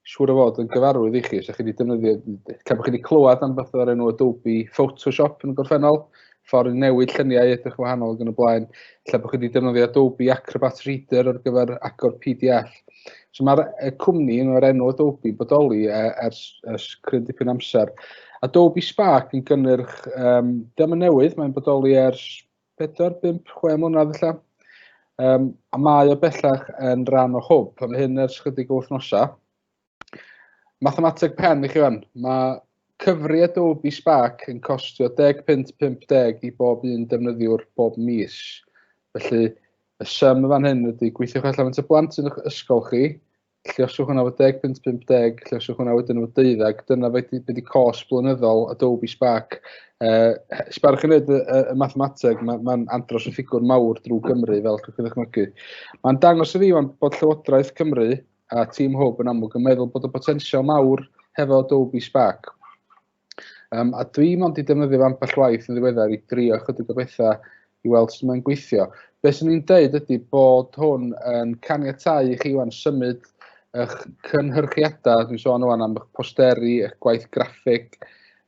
siŵr o fod, yn gyfarwydd i chi, os ydych chi wedi defnyddio, cael bod chi wedi clywed am beth o'r enw Adobe Photoshop yn y gorffennol, ffordd i newid lluniau edrych wahanol yn y blaen, lle bod chi wedi defnyddio Adobe Acrobat Reader ar gyfer agor PDF. So mae'r cwmni yn o'r enw Adobe bodoli e, ers, ers cryn dipyn amser. Adobe Spark yn gynnyrch, um, dyma newydd, mae'n bodoli ers 4, 5, 6 mlynedd felly. Um, a mae o bellach yn rhan o hwb, a mae hyn ers chydig o wythnosau. Mathemateg pen i chi fan. Mae cyfri Adobe Spark yn costio 10 punt 50 i bob un defnyddiwr bob mis. Felly, y sym y fan hyn ydy gweithiwch allan y blant yn eich ysgol chi, llioswch hwnna fod 10 punt 50, llioswch hwnna wedyn fod 12, dyna beth ydy cos blynyddol Adobe Spark. Uh, Spark yn edrych y, y mathemateg, mae'n ma andros o ffigwr mawr drwy Gymru, fel chi'n ddechmygu. Mae'n dangos y fi, mae'n bod Llywodraeth Cymru a tîm Hwb yn amlwg yn meddwl bod y potensial mawr hefo Adobe Spark. Um, a dwi mond i defnyddio ambell waith yn ddiweddar i drio chydig o bethau i weld sut mae'n gweithio. Be sy'n ni'n dweud ydy bod hwn yn caniatau i chi wan symud eich cynhyrchiadau, dwi'n sôn o'n am eich posteri, eich gwaith graffig,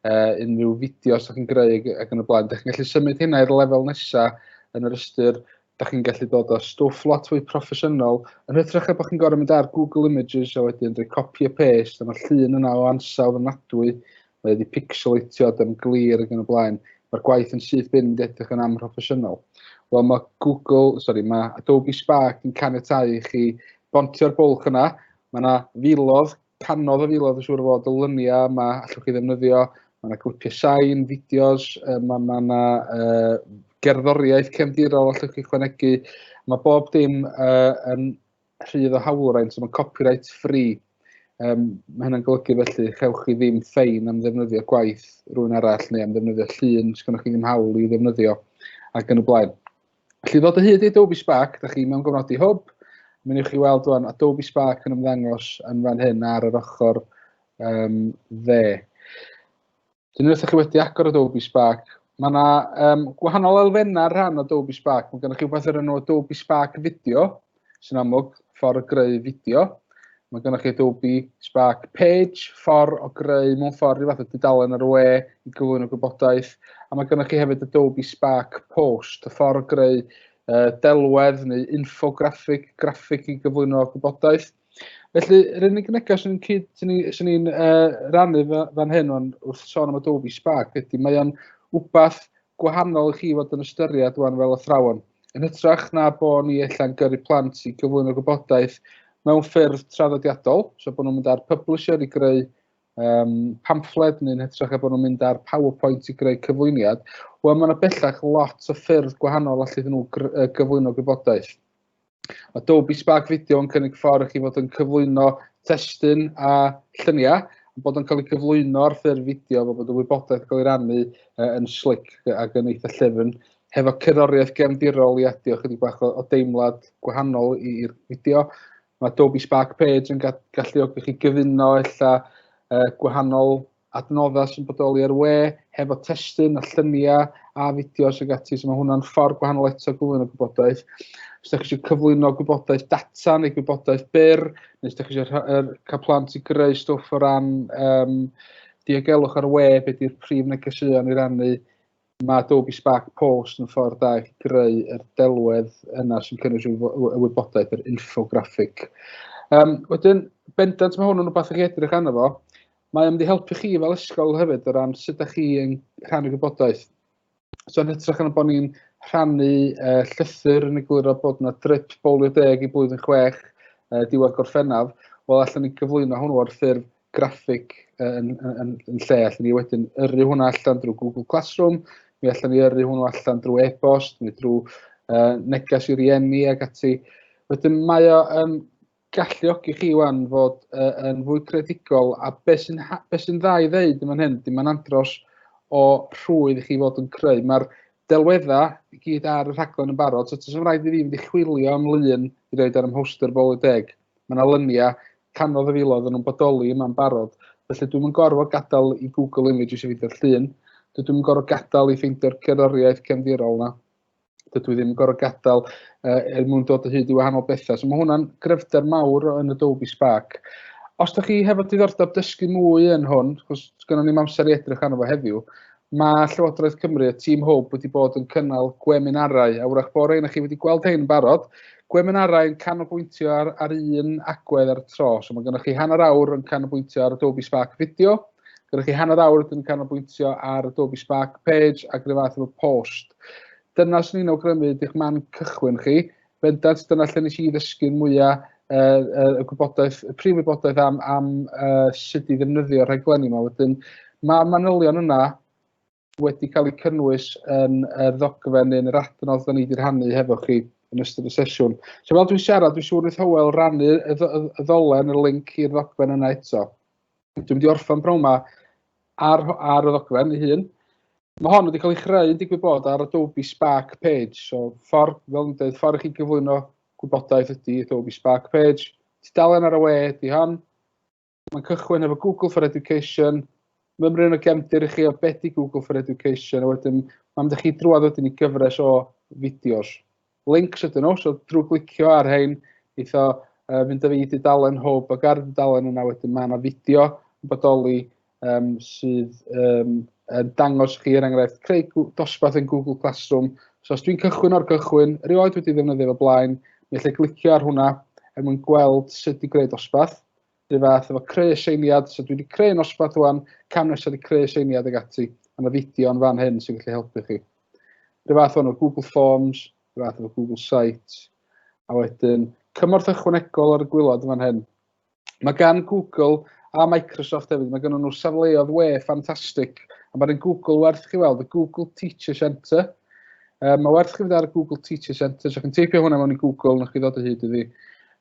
uh, unrhyw fideos ydych chi'n greu ac yn y blaen. Dych chi'n gallu symud hynna i'r lefel nesaf yn yr ystyr dach chi'n gallu dod â stwff lot fwy proffesiynol, yn hytrach a bod chi'n gorau mynd ar Google Images a wedyn rhoi copy a paste, a mae'r llun yna o ansawdd yn nadwy, mae wedi pixelatio, yn glir ac yn y blaen. Mae'r gwaith yn syth bin wedi edrych yn amhroffesiynol. Wel, mae Google, sorry, mae Adobe Spark yn caniatau i chi bontio'r bwlch yna. Mae yna filodd canodd y filodd yn siŵr o fod y lyniau yma allwch chi ddefnyddio. Mae yna clipiau sain, fideos, mae yna ma uh, gerddoriaeth cefndirol allwch chi chwanegu. Mae bob dim uh, yn rhydd o hawlwraint, so mae'n copyright free. Um, mae hynny'n golygu felly, chewch chi ddim ffein am ddefnyddio gwaith rhywun arall neu am ddefnyddio llun sy'n gennych chi ddim hawl i ddefnyddio ac yn y blaen. Felly ddod o hyd i Adobe Spark, da chi mewn gofnodi hwb, mi wneud chi weld rwan Adobe Spark yn ymddangos yn fan hyn ar yr ochr um, dde. Dyn nhw chi wedi agor Adobe Spark, mae yna um, gwahanol elfennau rhan o Adobe Spark. Mae gennych chi rhywbeth o'r enw Adobe Spark Video, sy'n amlwg, ffordd o greu fideo. Mae gennych chi Adobe Spark Page, ffordd o greu mewn ffordd i fath o dudalen ar y we i gyflwyno gwybodaeth. A mae gennych chi hefyd Adobe Spark Post, y ffordd o greu uh, delwedd neu infograffig, graffig i gyflwyno gwybodaeth. Felly, yr unig neges sy'n cyd, sy'n sy ni'n uh, rannu fan hyn o'n wrth sôn am Adobe Spark ydy mae o'n wbath gwahanol i chi fod yn ystyried rwan fel athrawon. Yn hytrach na bo ni ella'n gyrru plant i gyflwyno gwybodaeth mewn ffyrdd traddodiadol, so bod nhw'n mynd ar publisher i greu um, pamffled neu'n hytrach a bod nhw'n mynd ar PowerPoint i greu cyflwyniad, wel mae yna bellach lot o ffyrdd gwahanol allu iddyn nhw gyflwyno gwybodaeth. Adobe Spark Video yn cynnig ffordd i chi fod yn cyflwyno testyn a lluniau bod yn cael ei gyflwyno ar ffurf fideo fel bod y wybodaeth yn cael ei rannu uh, yn slic ac yn eitha llyfn hefo cerddoriaeth gefndirol i adio chydig bach o, o deimlad gwahanol i'r fideo. Mae Adobe Spark Page yn galluogi chi gyfuno ella uh, gwahanol adnoddau sy'n bodoli ar we, hefo testun a lluniau a fideos ag ati, so mae hwnna'n ffordd gwahanol eto gyflwyno gwybodaeth. Os ydych chi eisiau cyflwyno gwybodaeth data neu gwybodaeth byr, neu os ydych chi eisiau cael plant i greu stwff o ran um, diogelwch ar we, beth yw'r prif negeseuon i rannu, Mae Adobe Spark Post yn ffordd da i chi greu yr delwedd yna sy'n cynnwys y wybodaeth, yr infograffig. Um, wedyn, bendant mae hwn yn rhywbeth chi edrych arno fo. Mae o'n mynd i helpu chi fel ysgol hefyd o ran sut ydych chi yn rhannu gwybodaeth. So yn hytrach yn bod ni'n rhannu uh, llythyr yn egluro bod yna drip bolio deg i blwyddyn chwech uh, diwedd gorffennaf, wel allan ni gyflwyno hwnnw ar ffurf graffig yn, yn, yn, yn lle, allan ni wedyn yrru hwnna allan drwy Google Classroom, mi allan ni yrru hwnna allan drwy e-bost, neu drwy uh, neges i rieni ac ati. Wedyn mae o yn galluogi chi wan fod uh, yn fwy credigol a beth sy'n be sy dda i ddeud yn fan hyn, dim ond andros o rhwydd i chi fod yn creu. Mae'r delweddau i gyd ar y rhaglen yn barod, so ti'n rhaid i fi fynd i chwilio am lun i roed ar ym mhoster bol y deg. Mae yna luniau canodd y filoedd yn nhw'n bodoli yma'n barod, felly dwi'm yn gorfod gadael i Google Images i ffeindio'r llun, dydw i'm yn gorfod gadael i ffeindio'r gerddoriaeth gefndirol yna, dydw i ddim yn gorfod gadael uh, er mwyn dod o hyd i wahanol bethau. So mae hwnna'n gryfder mawr yn y Dolby Spark. Os da chi hefo diddordeb dysgu mwy yn hwn, cos gynnon ni'n amser i edrych arno fo heddiw, Mae Llywodraeth Cymru a Tîm Hwb wedi bod yn cynnal gweminarau, a wrach bod ein chi wedi gweld ein barod, gweminarau yn canolbwyntio ar, ar un agwedd ar y tro. So mae gennych chi hanner awr yn canolbwyntio ar Adobe Spark Video, gennych chi hanner awr yn canolbwyntio ar Adobe Spark Page ac rhywbeth fath efo post. Dyna sy'n ni'n awgrymu ydych man cychwyn chi, bendant dyna lle nes i ddysgu'r mwya uh, uh, y gwybodaeth, y prif wybodaeth am, am uh, sut i ddefnyddio'r rhaglenni yma. Wedyn, mae'r manylion yna wedi cael eu cynnwys yn y ddogfen neu'n yr adnodd da ni wedi rhannu hefo chi yn ystod y sesiwn. So fel dwi'n siarad, dwi'n siŵr wrth Howell rannu y ddolen, y link i'r ddogfen yna eto. dwi'n mynd i orffen bron yma ar, ar y ddogfen ei hun. Mae hon wedi cael ei chreu yn digwydd bod ar Adobe Spark Page. So, ffordd, fel yn dweud, ffordd i chi gyflwyno gwybodaeth ydy Adobe Spark Page. Tudalen ar y we ydy hon. Mae'n cychwyn efo Google for Education. Mymryn o gefndir i chi o beth i Google for Education. A wedyn, mae'n mynd i chi drwad wedyn i gyfres o fideos. links ydyn nhw, so drwy glicio ar rhain, eitho uh, fynd â fi i dudalen hwb ac ar y dudalen yna wedyn mae yna fideo yn bodoli um, sydd um, yn dangos chi er enghraifft creu dosbarth yn Google Classroom. So os dwi'n cychwyn o'r gychwyn, rioed wedi ddefnyddio fo blaen, mi allai glicio ar hwnna er mwyn gweld sut i greu dosbarth. Rhyw fath efo creu seiliad, so dwi wedi creu nosbarth rwan, cam nesaf wedi creu seiliad ag ati, a mae fideo yn fan hyn sy'n gallu helpu chi. Rhyw fath o'n o Google Forms, rhyw fath efo Google Sites, a wedyn cymorth ychwanegol ar y gwylod yn fan hyn. Mae gan Google a Microsoft hefyd, mae gen nhw safleodd we ffantastig, a mae'r un Google werth chi weld, y Google Teacher Centre. Um, mae werth chi fydd ar y Google Teacher Centre, so chi'n teipio hwnna mewn i Google, na chi ddod o hyd iddi.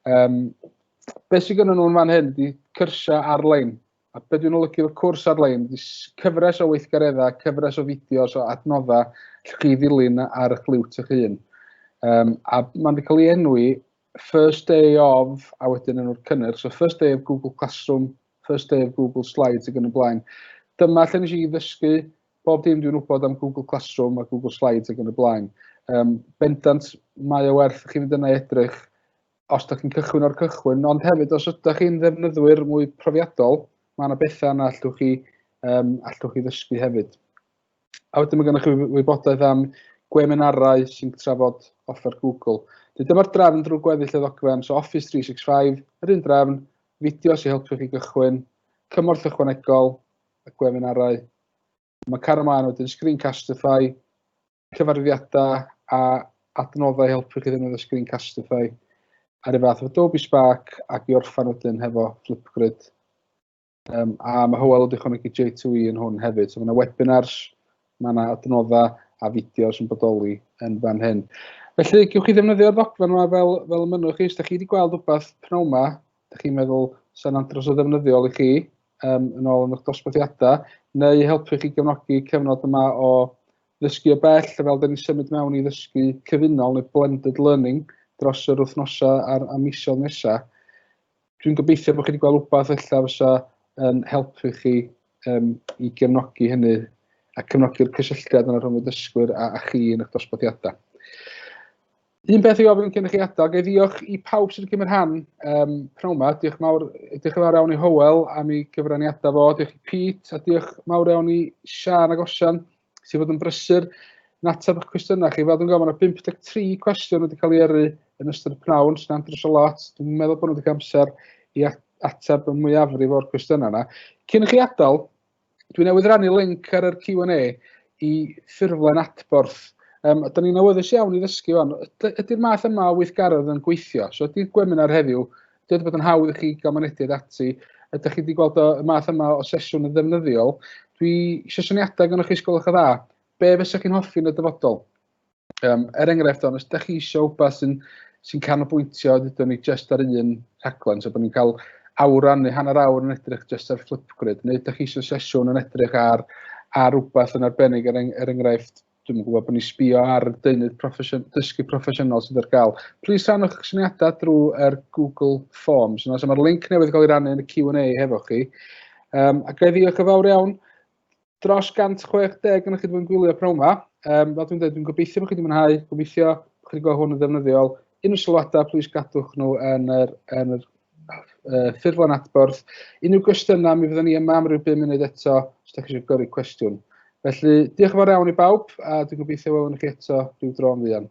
Um, beth sydd gyda nhw'n fan hyn ydy cyrsiau ar-lein. A beth dwi'n olygu o'r cwrs ar-lein ydy cyfres o weithgareddau, cyfres o fideos o adnoddau lle chi ddilyn ar eich liwt eich hun. Um, a mae'n wedi cael ei enwi first day of, a wedyn enw'r cynnyrch, so first day of Google Classroom, first day of Google Slides ac yn y blaen. Dyma lle nes i ddysgu bob dim dwi'n wybod am Google Classroom a Google Slides ac yn y blaen. Um, bendant, mae o werth chi fynd yna edrych os da chi'n cychwyn o'r cychwyn, ond hefyd os ydych chi'n ddefnyddwyr mwy profiadol, mae yna bethau yna allwch chi, um, allwch chi ddysgu hefyd. A wedyn mae gennych chi wybodaeth am gweminarau sy'n trafod offer Google. Dwi dyma'r drefn drwy gweddill y ddogfen, so Office 365, yr un drefn, fideo sy'n helpu chi gychwyn, cymorth ychwanegol, y gweminarau. Mae car ymlaen wedyn Screencastify, cyfarwyddiadau a adnoddau i helpu chi ddefnyddio Screencastify ar y fath o Adobe Spark ac i orffan wedyn hefo Flipgrid. Um, a mae Hywel wedi chwanegu J2E yn hwn hefyd. So mae yna webinars, mae yna adnoddau a fideos yn bodoli yn fan hyn. Felly, gewch chi ddefnyddio'r ddogfen yma fel, fel y mynnwch chi. Os da chi wedi gweld rhywbeth pnawn yma, da chi'n meddwl sy'n andros o ddefnyddiol i chi, um, yn ôl yn eich dosbarthiadau, neu helpu chi gefnogi cyfnod yma o Ddysgu o bell, fel dyn ni'n symud mewn i ddysgu cyfunol neu blended learning dros yr wythnosau a'r a misoedd nesaf. Dwi'n gobeithio bod chi wedi gweld rhywbeth ella fysa yn helpu chi um, i gefnogi hynny a cefnogi'r cysylltiad yna rhwng y dysgwyr a, a chi yn eich dosbarthiadau. Un peth i ofyn cyn i chi adael, gael ddiolch i pawb sydd wedi cymryd rhan um, pnawn yma. Diolch mawr, diolch mawr iawn i Howell am ei gyfraniadau fo. Diolch i Pete a diolch mawr iawn i Sian ac Osian sydd fod yn brysur yn ateb eich cwestiynau chi. Fel dwi'n gofyn, mae 53 cwestiwn wedi cael ei yrru yn ystod y pnawn, sy'n andros o lot. Dwi'n meddwl bod nhw wedi cael amser i ateb y mwyafrif o'r cwestiynau yna. Cyn i chi adael, Dwi newydd rannu link ar yr Q&A i ffurflen adborth. Um, Ydy ni'n awyddus iawn i ddysgu fan. Ydy'r math yma o weithgaredd yn gweithio? So ydy'r gweminar heddiw, ydy wedi bod yn hawdd i chi gael mynediad ati? Ydych chi wedi gweld y math yma o sesiwn yn ddefnyddiol? Dwi eisiau syniadau gan o'ch chi sgolwch y dda. Be fysa chi'n hoffi yn y dyfodol? Yym, er enghraifft, os ydych chi eisiau wbeth sy'n sy canolbwyntio, dydw ni jyst ar un rhaglen, so bod ni'n cael awran neu hanner awr yn edrych jyst ar Flipgrid, neu ydych chi eisiau sesiwn yn edrych ar, ar wbeth yn arbennig, er, er enghraifft, dwi'n gwybod bod ni'n sbio ar y deunydd profession, dysgu proffesiynol sydd ar gael. Plis rhanwch eich syniadau drwy'r Google Forms. Yna, so mae'r link newydd gael ei rannu yn y Q&A hefo chi. Um, a gael ddiolch yn fawr iawn dros 160 yn chi wedi bod yn gwylio pnawn yma. Um, fel dwi'n dweud, dwi'n gobeithio bod chi wedi mwynhau, gobeithio bod chi wedi gweld hwn yn ddefnyddiol. Unrhyw sylwadau, plis gadwch nhw yn yr, yn yr uh, ffurflen adborth. Unrhyw gwestiynau, mi fyddwn ni yma am ryw 5 munud eto, os ydych chi eisiau gyrru cwestiwn. Felly, diolch yn fawr iawn i bawb, a dwi'n gobeithio welwn chi eto rhyw dro yn fuan.